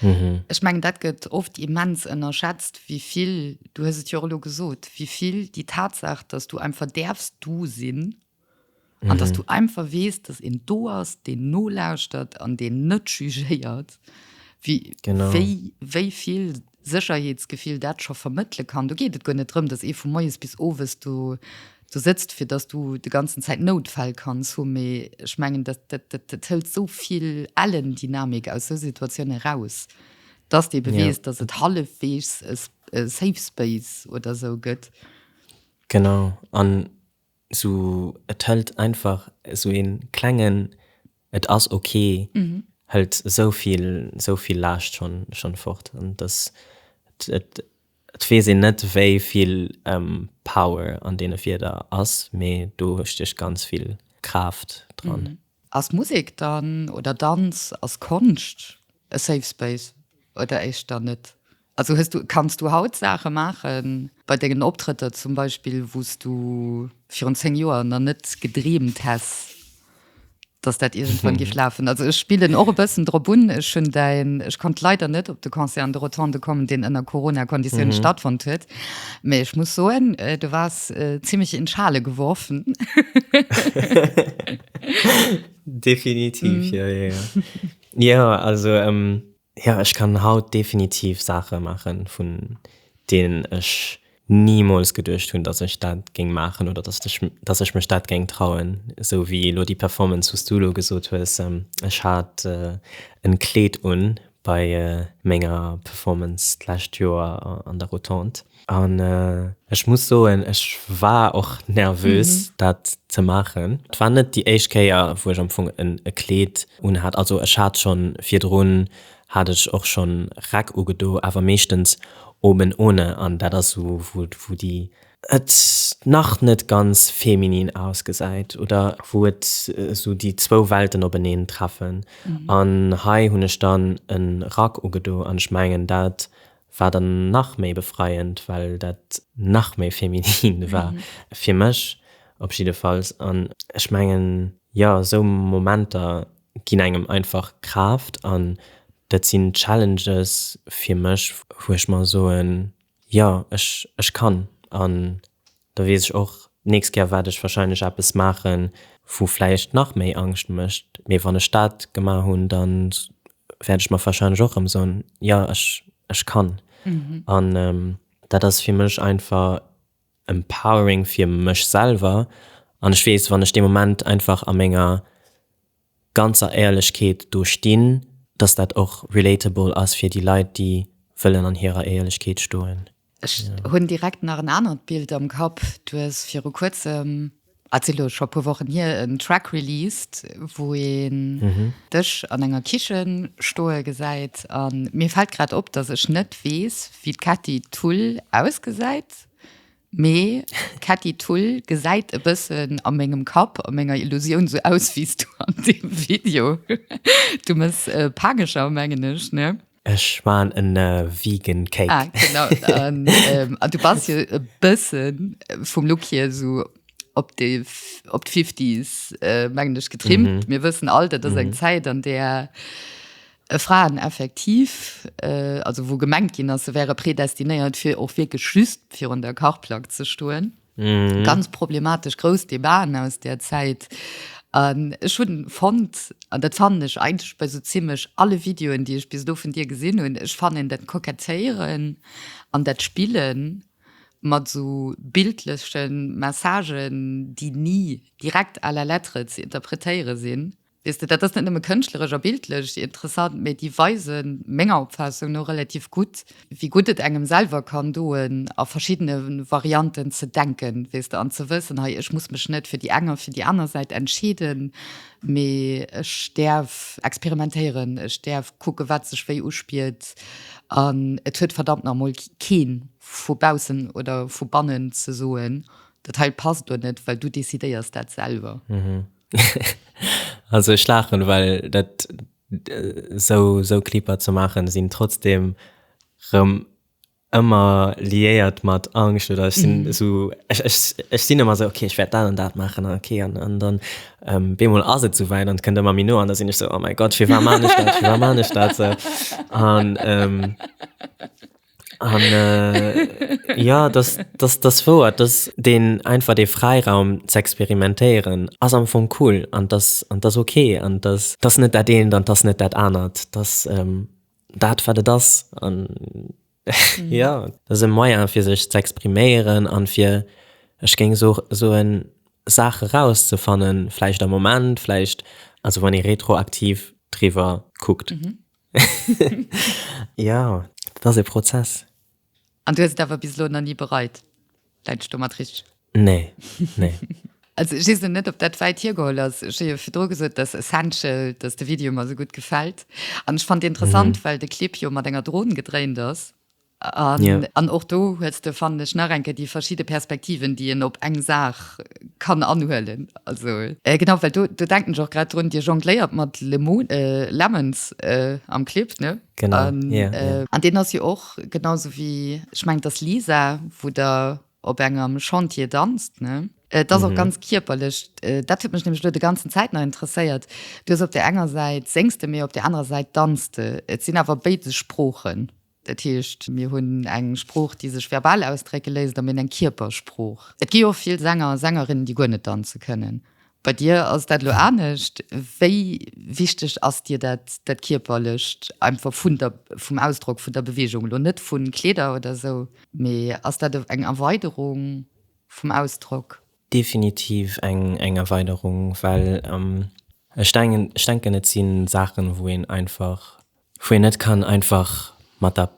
ech mengen, dat gëtt oft immens ënnerschätzt, wéi vill, du hues et jo och elo gesot, wéi vill déi Tatsaach, dass du einfach däerfs du sinn, An dass du einfach weess, dass een do ass, deen nolauschtert an deen net jugéiert, wéi vill Sécherheetsgefill dat scho vermëttele kann. Do geet et guer net drëm, dass ee vu moies bis owes do sëtzt, fir dass du déi ganzen Zäit Noutfäll kanns hu, mee ech mengen, dat hëlt esou vill Ellendynamik aus esou Situatioune eraus, dass de ebe weess, dass et hallefweegs e Safe Space oder esou gëtt. Genau. Sou et hëllt einfach sou een klengen et ass ok hëllt souvill souvill Laascht schon schon fort an dass et et weess een net wéivill Power an deene Wierder ass mee do stecht ganz vill Kraaft dran. Ass Musek dann, oder Danz, ass Konscht e Safe Space oder éischter net? Also hues du, kanns du haut Saache maachen bei dengen Optrëtter zum Beispill, wou s du virun 10 Joer nach net gedreemt häss, dass dat iergendwann géif lafen? Also ech spillen och e bëssen drop un. Ech hunn däin, ech konnt leider net op de Concert an de Rotonde kommen, deen ënner Corona-Konditiounen stattfonnt huet, Mee ech muss soen, äh, du wars äh, ziemlich in Schale geworfen. definitiv, mm. ja, ja, ja. ja, also ähm, ja, ich kann haut definitiv Sache machen, von denen ich niemals gedurcht hun, dass ich dat ging machen oder dass ich, dass ich mich dat ging trauen. So wie lo die Performance, was du lo gesot hues, ähm, ich hat äh, en Kleed un, bei menger Performance d'lescht Joer an der Rotonde. An ech muss soen, ech war och nervös, dat ze maachen. Et war net déi éischt Kéier, wou ech am Fong e Kleed unhat. Also ech hat schonn virdrun hat ech och schonn Räck ugedo, awer meeschtens oben ohne. An dat ass esou, wou déi et nach net ganz feminin ausgesäit oder wou et esou déi zwou Welten openeen treffen an hei hunn ech dann e Rack ugedo an ech mengen dat war dann nach méi befreiend well dat nach méi feminin war fir mech op jiddefalls an ech mengen jo esou Momenter ginn engem einfach Kraaft an dat sinn Challenges fir mech wou ech mer soen Jo, ech, ech kann. An da weess ech och d'nächst Kéier waert ech wahrscheinlech eppes maachen, wou vläicht nach méi Angscht mécht. Mee wann ech dat gemaach hunn, da wäert ech mer wahrscheinlech och erëm soen, jo, ech, ech kann. An dat ass fir mech einfach empowering fir mech selwer. An ech weess, wann ech dee Moment einfach a menger ganzer Éierlechkeet do stinn, dass dat och relatable ass fir déi Leit, déi wëllen an hirer Éierlechkeet stoen. Ech hunn direkt nach en anert Bild am Kapp. Du hues viru kuerzem, ass elo scho e puer Wochen hier, en Track released, wou een dech an enger Kichen stoe gesäit. A mir fält grad op, dass ech net weess, wéi d'Katty Tull ausgesäit. Mee d'Ketti Thull gesäit e bëssen a mengem Kapp, a menger Illusioun, sou aus wéi s du an deem Video. Du mëss Pageschau, mengen ech, ne? Ech man en vegan Cake. Ah, genau. An du bass jo e bësse vum Look hier esou op de op d'Fifties, mengen ech, getrimmt. Mir wëssen all, dat ass eng Zäit, an där e Fraeneffektiv, also wou gemengt ginn ass, se wäre predestinéiert fir och wierklech just virun der Kachplack ze stoen, ganz problematesch, grouss Debaten aus där Zäit. An ech hu fonnt, an dat fannen ech eigentlech bei esou zimmlech alle Videoen, déi ech bis elo vun dir gesinn hunn, ech fannen dat Kokettéieren an dat Spille mat esou bildleche Messagen, déi ni direkt à la lettre ze interpretéiere sinn, Weess de, dat ass net nëmme kënschtleresch a bildlech interessant, mee déi weisen, menger Opfaassung no, relativ gutt, wéi gutt et engem selwer kann doen, a verschiddene Varianten ze denken, weess de, an ze wëssen, hei, ech muss mech net fir déi eng a fir déi aner Säit entscheeden, mee ech däerf experimentéieren, ech däerf kucken, wat sech wéi uspiert, an et huet verdammt nach mol kee vu baussen oder vu bannen ze soen, dat hei passt do net, well du decidéiers dat selwer. Also ech laachen, well dat esou esou Clipper ze maachen sinn trotzdem rëm ëmmer liéiert mat Angscht oder ech sinn esou ech ech ech sinn ëmmer esou okay ech wäert dat an dat maachen an okay an an dann beemol ass et souwäit an et kënnt ëmmer méi no an da sinn ech esou oh mäi Gott firwat maan ech dat firwat maan ech dat an An äh, ja, das, das, das wouer, dass den einfach de Freiraum ze experimentéieren ass am Fong cool an dass an dass okay an dass dass net dat eent an dass net dat anert, dass ähm, dat wat et ass an mhm. ja, dass e Moyen fir sech ze expriméieren an fir ech géng so soen Saache rauszefannen, vläicht am Moment, vläicht also wann ee retroaktiv driwwer kuckt. Mhm. Jo, dat ass e Prozess. An du hues et awer bis elo nach ni bereit, läit ech domat richteg? Nee, nee. Also ech weess lo net, ob dat wäit hiergeholl ass. Ech hu jo virdru gesot, dass Essential, dass de Video mer esou gutt gefält. An ech fand dee interessant, well de Clip jo mat enger Dron gedréint ass. An och do hues de, fannen ech, nach eng Kéier déi verschidde Perspektiven, déi een op eng Saach kann anhuelen. Genau, well do denken ech och grad drun, Dir jongléiert mat Lemons am Clip, ne? Genau, jo. An deen ass jo och, genau sou wéi, ech mengen et ass Lisa, wou Der op engem Chantier danzt, ne? Et ass och ganz kierperlech. Dat huet mech nämlech elo déi ganzen Zäit nach interesséiert. Du hues op där enger Säit, séngs de, mee op där anerer Säit, danzt de. Et sinn awer béides Sproochen. Dat heescht, mir hunn eng Sprooch, déi sech verbal ausdrécke léisst, a mir hunn eng Kierpersprooch. Et gi och vill Sänger a Sängerinnen, déi guer net danze kënnen. Bei dir ass dat elo anescht. Wéi wichteg ass dir dat, dat Kierperlecht, einfach vun der, vum Ausdrock, vun der Beweegung elo, net vu Kleeder oder esou, mee ass dat eng Erweiderung vum Ausdrock? Definitiv eng Erweiderung, well ech denken, et si Saachen, wou een einfach wou een net kann einfach mat der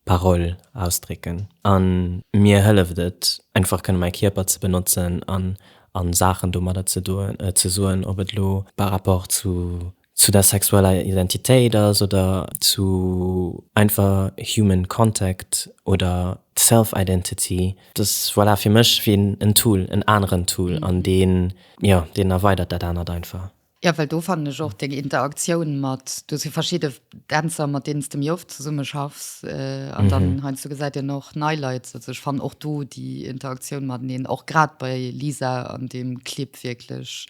Parole ausdrécken a mir hëlleft et einfach kënne mäi Kierper ze benotzen an a Saachen domadder ze doen, ze soen, ob et elo par rapport zu zu der sexueller Identitéit ass oder zu einfach human contact oder self identity, dass voilà fir mech wéi en Tool, en aneren Tool an deen, jo, deen erweidert dat anert einfach. Jo, well do fannen ech och deng Interaktioun mat, do si verschidde Dänzer, mat deenen s de méi oft zesumme schaffs an dann heiansdo gesäit een och nei Leit. Also ech fannen och do déi Interaktioun mateneen, och grad bei Lisa an deem Clip wierklech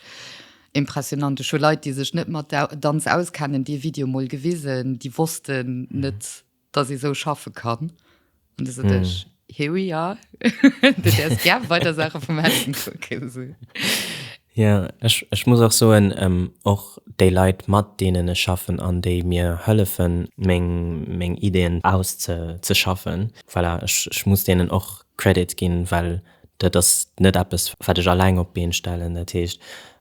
impressionant. Ech hu Leit, déi sech net mat Danz auskennen, dee Video mol gewisen, déi wossten net, dass ee sou schaffe kann. An du so dech, mm. here we are. du därs gär weiter Sache vum Händen kucken. So. Ja, ech, ech muss och soen, ähm, och déi Leit, mat deenen ech schaffen an déi mir hëllefen, meng, meng Ideen auszeschaffen, voilà, ech, ech muss deenen och Credit ginn, well dat ass net eppes, wat ech alleng op d'Been stellen. Dat heescht,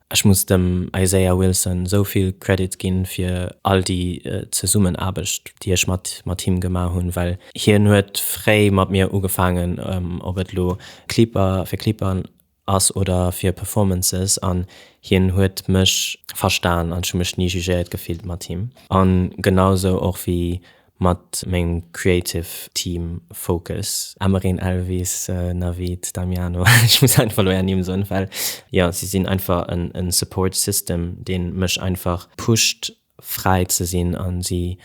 Ech muss dem Isaiah Wilson esou vill Credit ginn fir all déi Zesummenaarbecht déi ech mat mat him gemaach hunn, well hien huet fréi mat mir ugefaangen, ob et elo Clipper fir Clipper ass oder fir Performances, an hien huet mech verstan an ech hu mech ni jugéiert gefillt mat him an genau esou och wéi Mat mengem Creative Team Focus, Amereen, Elvis, Navid, Damiano, ech muss einfach elo är Nimm soen, well jo si sinn einfach en Support System deen mech einfach pusht fräi ze sinn an si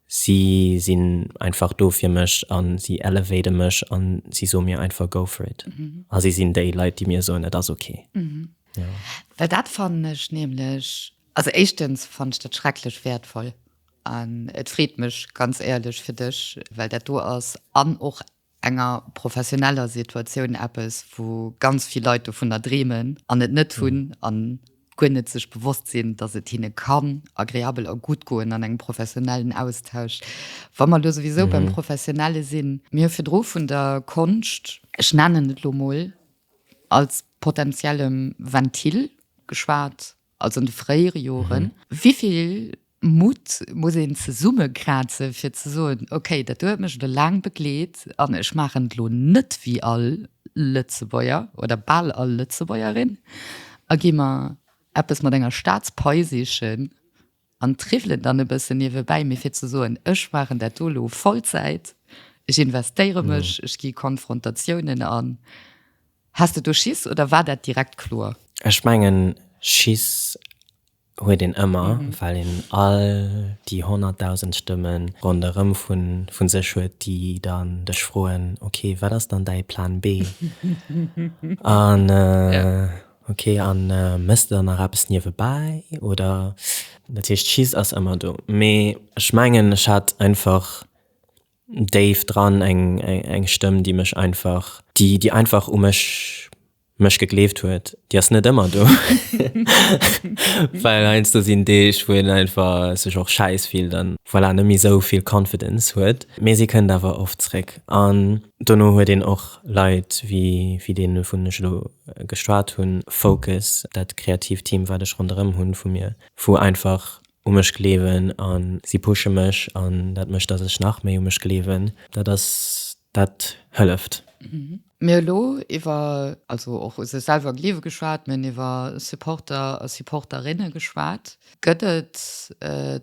si sinn einfach do fir mech an si elevaten mech an si soe mir einfach go for it a si sinn déi Leit déi mir soen et ass ok. Well dat fannen ech nämlech, also éischtens fannen ech dat schrecklech wäertvoll, An et freet mech ganz éierlech fir dech, well dat do ass an och enger professioneller Situatioun eppes, wou ganz vill Leit dovunner dreemen an et net hunn a guer net sech bewosst sinn, dass et hinne kann agreabel a gutt goen an engem professionellen Austausch. Wa mer elo souwisou beim Professionelle sinn, Mir hu virdru vun der Konscht, ech nennen et elo emol als potentiellem Ventil geschwat, als an de fréiere Joren. Wéi vill Mutt muss een zesummekraze fir ze soen, okay, dat do huet mech elo laang begleet an ech maachen et elo net wéi all Lëtzebuerger oder bal all Lëtzebuergerin a gi mer eppes mat enger Staatspai sichen? An triwwelen dann e bëssen niewebäi, mee fir ze soen, ech maachen dat do elo Vollzäit, ech investéiere mech, ech gi Konfrontatiounen an. Has de do Schiss oder war dat direkt kloer? Ech mengen, Schiss huet een ëmmer, well een all déi honnertdausend Stëmme ronderëm vu sech huet, déi dann dech froen, okay, wat ass dann däi Plan B? Ok an mëss der nach eppes niewebäi oder? Dat heescht cheese ass ëmmer do mee ech mengen ech hat einfach déif dran eng eng Stëmm déi mech einfach déi déi einfach u mech mech gegleeft huet. Déi ass net ëmmer do well heiansdo sinn Deeg wou een einfach sech och schäiss fillt an voilà net méi esou vill confidence huet mee se kënnt awer oft zréck an dono huet een och Leit wéi wéi dee vun ech elo geschwat hunn, Focus, dat kreatiivt Team wat ech ronderëm hunn vu mir, wou einfach u mech gleewen a si pushe mech an dat mécht dass ech nach méi u mech gleewen, dat ass dat hëlleft. Mir hu lo iwwer also och u sech selwer gleewe geschwat, mir hunn iwwer Supporter a Supporterinne geschwat. Gëtt et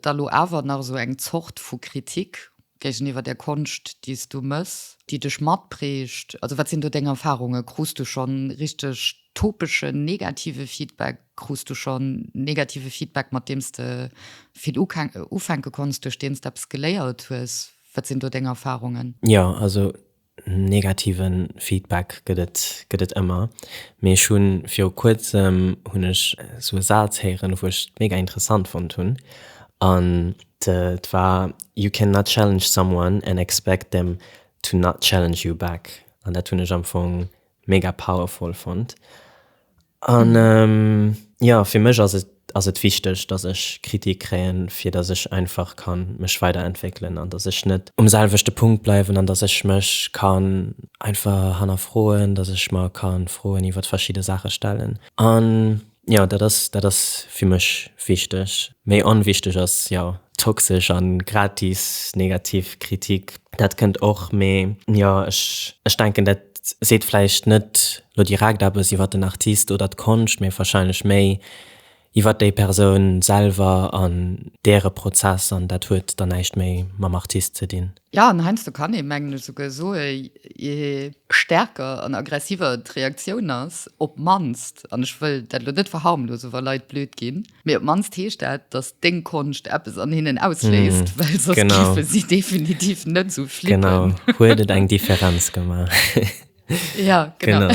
da lo awer nach esou eng Zort vu Kritik Géigeniwwer der Konscht, déi s du mëss? Déi dech matprägt? Also, wat sinn do deng Erfarunge? Krus du schonn richteg topeschen, negative Feedback? Krus du schonn negative Feedback, mat deem s de vill ufänke konns, duerch deen s de eppes geléiert hues? Wat sinn do deng Erfarungen? Jo, also Negativen Feedback gëtt et gëtt et ëmmer, mee ech hunn viru kuerzem hunn ech sou e Saz héieren wou ech mega interessant fonnt hunn an et war You can not challenge someone and expect them to not challenge you back an dat hunn ech am Fong mega powerful fonnt An jo, fir mech ass et ass et wichteg, datt ech Kritik kréien, fir datt ech einfach ka mech weiderentwéckelen an datt ech net um selwechte Punkt bleiwen an datt ech mech ka einfach hannerfroen, datt ech mer ka Froen iwwer verschidde Saache stellen. An jo, dat ass dat ass fir mech wichteg. Méi onwichteg ass jo toxesch a gratis negativ Kritik. Dat kënnt och, mee jo ech ech denken dat. seet vläicht net lo direkt eppes iwwer den Artist oder d'Konscht, mee warscheinlech méi iwwer déi Persoun selwer an däre Prozess, an dat huet dann näischt méi mam Artist ze dinn. Jo, an heiansdo kann ee mengen esouguer soe je stäerker an aggressiver d'Reaktioun ass, op d'mannst, an ech wëll dat lo net verharmlose wa Leit blöd ginn, Mee op d'mannst heescht dat, dass deng Konscht eppes an hinnen ausléist, well soss géife si definitiv net esou flippen. Genau, huet et eng Differenz gemaach. Ja, genau.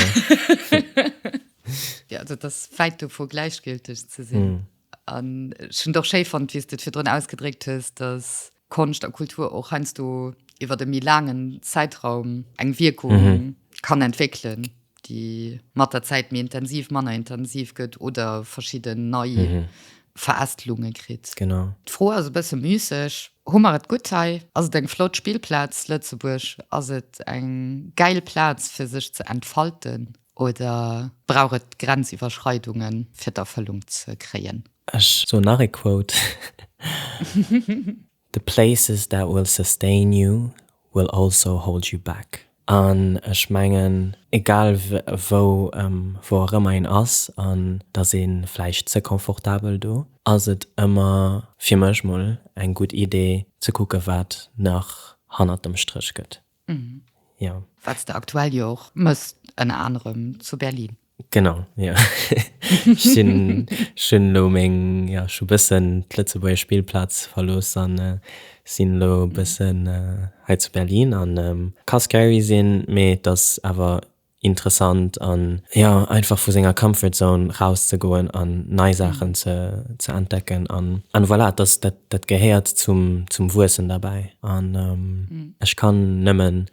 Jo, also et ass wäit dovu gläichgülteg ze sinn. An ech hunn et och schéi fonnt, wéi s du et virdrun ausgedréckt hues, dass Konscht a Kultur och heiansdo iwwer e méi laangen Zäitraum eng Wierkung kann entwéckelen, déi mat der Zäit méi intensiv, manner intensiv gëtt oder verschidden nei Verästelunge kritt. Genau. D'Fro ass e bësse müsseg, Hu mer et gutt hei? Ass et eng flott Spillplaz, Lëtzebuerg? Ass et eng gäil Plaz, fir sech ze entfalten? Oder brauch et Grenziwwerschreidungen, fir d'Erfëllung ze kréien? Ech soen nach ee Quote, The places that will sustain you will also hold you back. An ech mengen, egal wou wou och ëmmer een ass, an et ass ee vläicht ze confortabel do, ass et ëmmer, fir mech mol, eng gutt Idee ze kucke wat nach hannert dem Stréch gëtt. Jo. Wat s de aktuell jo och mëss, ënner anerem zu Berlin. Genau, jo. Ech sinn, ech hunn elo meng, jo, ech hu bëssen d'Lëtzebuerger Spillplaz verlooss an sinn elo e bëssen hei zu Berlin an ka scary sinn, mee et ass awer. interessant an jo einfach vu senger comfort zone rauszegoen an nei Saachen ze ze entdecken an an voilà dass dat dat gehéiert zum zum Wuessen derbäi an ech kann nëmmen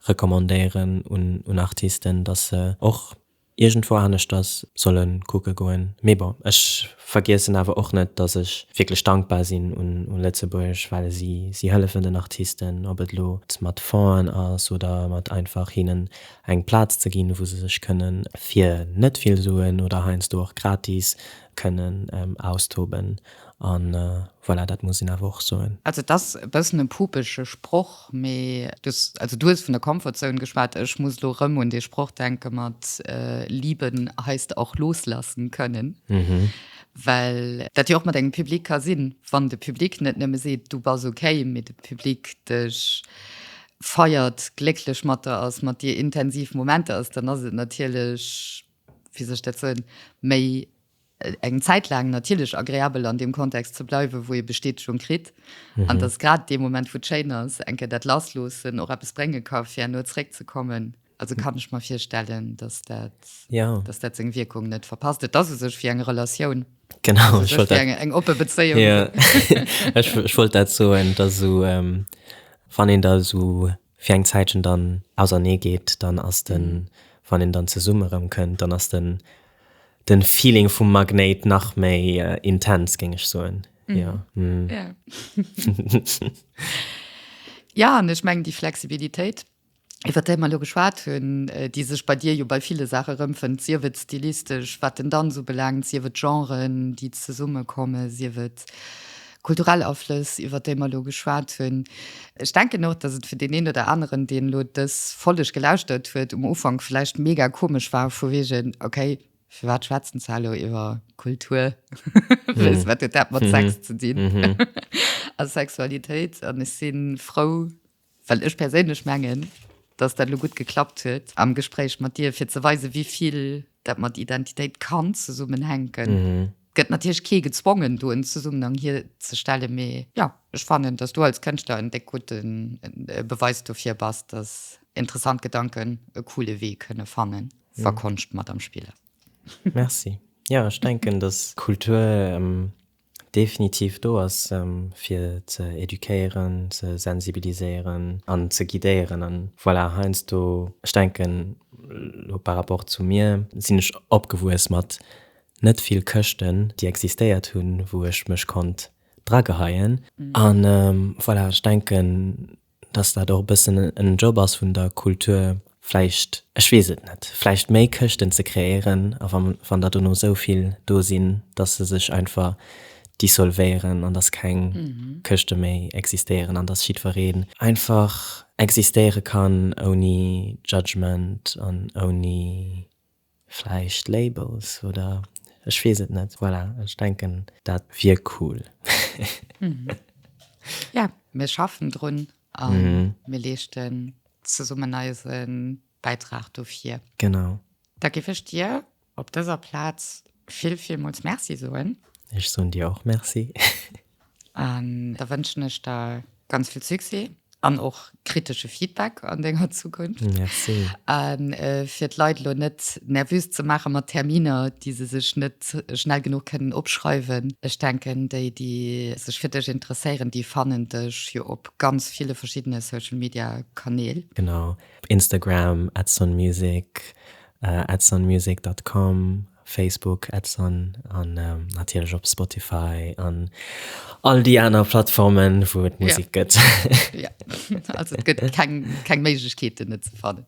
recommandéieren un un Artisten dass se och iergendwou aneschters solle kucke goen mee bon ech vergiessen awer och net dass ech wierklech dankbar sinn un un Lëtzebuerg well si si hëllefen den Artisten ob et lo mat Fongen ass oder mat einfach hinnen eng Plaz ze ginn, wou se sech kënnen fir net vill Suen oder heiansdo och gratis kënnen austoben. A voilà, dat muss een awer och soen. Also et ass e bëssen e pupege Sproch, mee du hues, also du hues vun der Comfort Zone geschwat, ech muss elo erëm un dee Sproch denke mat Lieben heißt auch loslassen können, well dat jo och mat engem Public ka sinn, wann de Public net nëmme seet, du bass okay, mee de Public dech feiert, glécklech mat der ass, mat dir intensiv Momenter ass, dann ass et natierlech, wéi soll ech dat soen, méi eng Zäit laang natierlech agreabel an deem Kontext ze bleiwen, wou ee Bestätegung kritt. Mhm. An dass grad dee Moment, wou et schéin ass, eng Kéier dat Lassloossen och eppes brénge ka fir herno zréckzekommen. Also kann ech mir virstellen, dass dat, ja. dass dat seg Wierkung net verpasst. Et ass u sech fir eng Relatioun. Genau ech wollt eng, eng oppe Bezéiung. Ja. ech, ech wollt dat so en dat so ähm, wann en da so fir eng Zäitchen dann ausernee geet, dann ass den mhm. wann en dann zesumme rëm kënnt, dann ass den den Feeling vum Magnéit nach méi äh, intens géng ech soen. Mhm. Ja. Mhm. ja. ja, an ech meng déi Flexibilitéit iwwer déi mer elo geschwat hunn, déi sech bei dir jo bei ville Saache erëmfënnt, sief et stilistesch, wat den Danz ubelaangt, sief et Genren, déi zesummekommen, sief et kulturell Aflëss, iwwer déi mer elo geschwat hunn. Ech denken och, datt et fir deen een oder aneren, deen elo dës Folleg gelauschtert huet, um Ufank vläicht mega komesch war, vu wegen, Okay, firwat schwätzen se elo iwwer Kultur? Wéinst wat huet dat mat Sex ze dinn a Sexualitéit? An ech si frou, Well ech perséinlech mengen, dass dat elo gutt geklappt huet am Gespréich mat dir, fir ze weisen, wéi vill dat mat Identitéit kann zesummenhänken. Et gëtt natierlech kee gezwongen, do en Zesummenhang hierzestellen, mee jo, ech fannen, dass du als Kënschtler en déck gudde Beweis dofir bass, dass interessant Gedanken e coole Wee kënne fannen, wa Konscht mat am Spill ass. Merci. Jo, ech denken, dass Kultur. Definitiv do ass, fir ze éduquéieren, ze sensibiliséieren an ze guidéieren. An voilà, heiansdo, ech denken elo par rapport zu mir, sinn ech opgewuess mat net vill Këschten, déi existéiert hunn, wou ech mech konnt drageheien. An voilà, ech denken, dass dat och e bëssen en Job ass vun der Kultur, vläicht, ech weess et net, vläicht méi Këschten ze kreéieren, a wa wann der dono esou vill do sinn, dass se sech einfach dissolvéieren an dass keng Këschte méi existéieren an dass jiddweree einfach existéiere kann ouni Judgement an ouni. Vläicht Labels oder ech weess et net. Voilà, ech denken dat wier cool. Jo, mir schaffen drun a mir leeschten zesummen eise Bäitrag dofir. Genau. Da géif ech dir op dëser Plaz vill, villmools Merci soen. Ech soen dir och Merci. An da wënschen ech der ganz vill Succès an och kritesche Feedback an denger Zukunft. Merci. A fir d'Leit elo net nervös ze maache mat Terminer, déi se sech net schnell genuch kënnen opschreiwen, ech denken, déi, déi sech fir dech interesséieren, déi fannen dech jo op ganz ville verschiddene Social-Media-Kanäl. Genau, Instagram, @sonmusic, @sonmusic.com, Facebook Ads an an natierlech op Spotify an all déi aner Plattformen, wou et Musik gëtt. Jo, also et gëtt keng keng Méiglechkeet, en net ze fannen.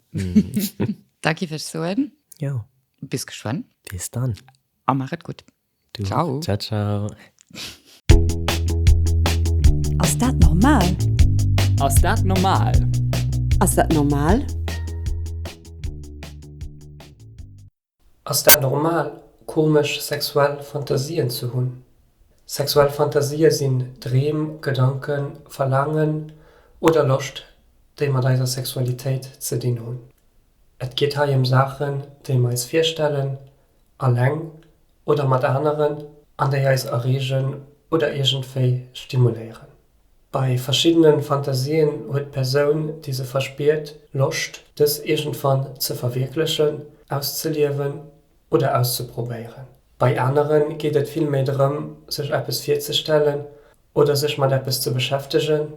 Da giff ech soen. Jo. Bis geschwënn. Bis dann. A maach et gutt. Du och. Ciao. Ciao, ciao. Ass dat normal? Ass dat normal? Ass dat normal? Ass dat normal, komesch sexuell Fantasien ze hunn? Sexuell Fantasien sinn Dreem, Gedanken, Verlaangen oder Loscht, déi mat eiser Sexualitéit ze dinn hunn. Et geet hei ëm Saachen, déi mer eis virstellen, alleng oder mat aneren, an déi eis erreegen oder iergendwéi stimuléieren. Bei verschiddene Fantasien huet d'Persoun, déi se verspiert, Loscht, dës iergendwann ze verwierklechen, auszeliewen oder auszeprobéieren. Bei anere geet et vill méi drëm, sech eppes virzestellen oder sech mat eppes ze beschäftegen,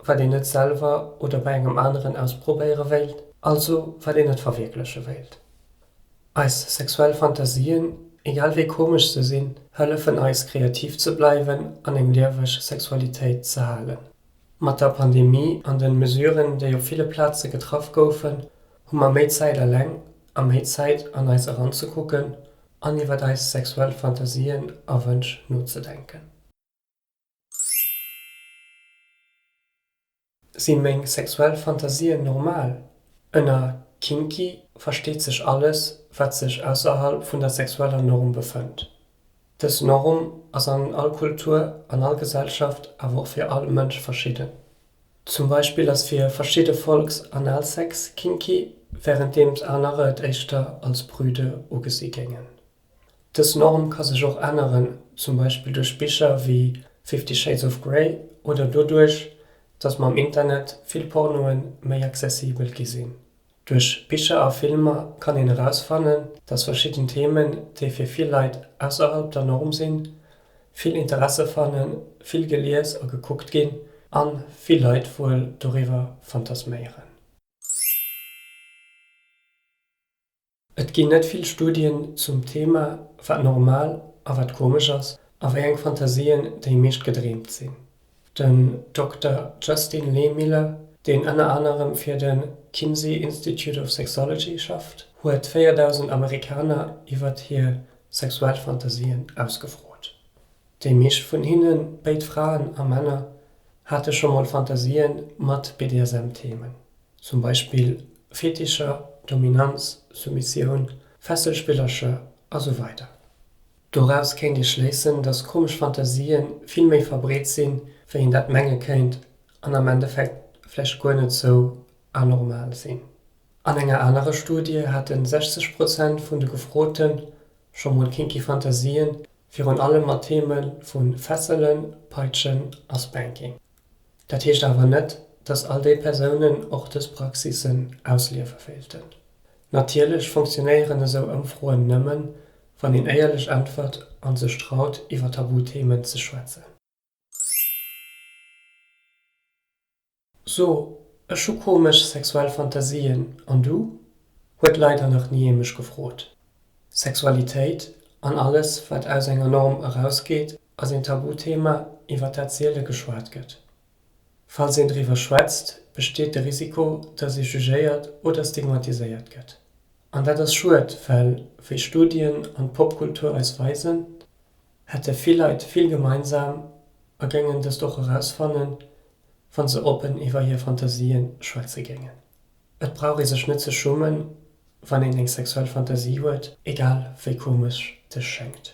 wat een net selwer oder bei engem aneren ausprobéiere wéilt, also wat een net verwierkleche wéilt. Eis sexuell Fantasien, egal wéi komesch se sinn, hëllefen eis kreativ ze bleiwen an eng lieweg Sexualitéit ze halen. Mat der Pandemie an den Mesuren, déi op ville Plaze getraff goufen, hu mer méi Zäit aleng a méi Zäit an eis eranzekucken an iwwert eis sexuell Fantasien a Wënsch nozedenken. Sinn meng sexuell Fantasien normal? Ënner kinky versteet sech alles, wat sech ausserhalb vun der sexueller Norm befënnt. Dës Norm ass an all Kultur, an all Gesellschaft, awer och fir all Mënsch verschidden. Zum Beispill ass fir verschidde Folks Analsex kinky, wärenddeems anerer et éischter als prüde ugesi géingen. Dës Norm ka sech och änneren, zum Beispill duerch Bicher wéi Fifty Shades of Grey oder doduerch, datt mam Internet vill Pornoe méi accessibel gi sinn. Duerch Bicher a Filmer kann een erausfannen, datt verschidden Themen, déi fir vill Leit ausserhalb der Norm sinn, vill Interesse fannen, vill gelies a gekuckt ginn a vill Leit wuel doriwwer fantasméieren. Et ginn net vill Studien zum Thema, wat normal a wat komesch ass a wéi eng Fantasien déi meescht gedreemt sinn. Den Dokter Justin Lehmiller, deen ënner anerem fir de Kinsey Institute of Sexology schafft, huet 4.000 Amerikaner iwwert hir sexuell Fantasien ausgefrot. Déi meescht vun hinne, béid Fraen a Männer, hate scho mol Fantasien mat BDSM-Themen. zum Beispill Fetischer, Dominanz, Soumissioun, Fesselspillercher a sou weider. Doraus kéint ee schléissen, dass komesch Fantasië vill méi verbreet sinn, wéi een dat menge kéint an am Endeffekt vläicht guer net sou anormal sinn. An enger anerer Studie hate 60 Prozent vun de Gefrote scho mol kinky Fantasien, virun allem mat Theeme vu Fesselen, Peitschen a Spanking. Dat heescht awer net, dass all déi Persounen och dës Praxissen ausliewe wéilten. Natierlech funktionéieren esou Ëmfroen nëmmen, wann een éierlech äntwert a sech traut, iwwer Tabuthemen ze schwätzen. So, ech hu komesch sexuell Fantasien, an du? huet leider nach ni ee mech gefrot. Sexualitéit an alles, wat aus enger Norm erausgeet, ass een Tabuthema, iwwer dat siele geschwat gëtt. Falls een driwwer schwätzt, besteet de Risiko, datt ee jugéiert oder stigmatiséiert gëtt. An dat ass schued, well, wéi Studien an d'Popkultur eis weisen, hätte vill Leit vill gemeinsam a géingen dëst och erausfannen, wa se oppen iwwer hir Fantasië schwätze géingen. Et brauch ee sech net ze schummen, wann een eng sexuell Fantasie huet, egal wéi komesch dës schéngt.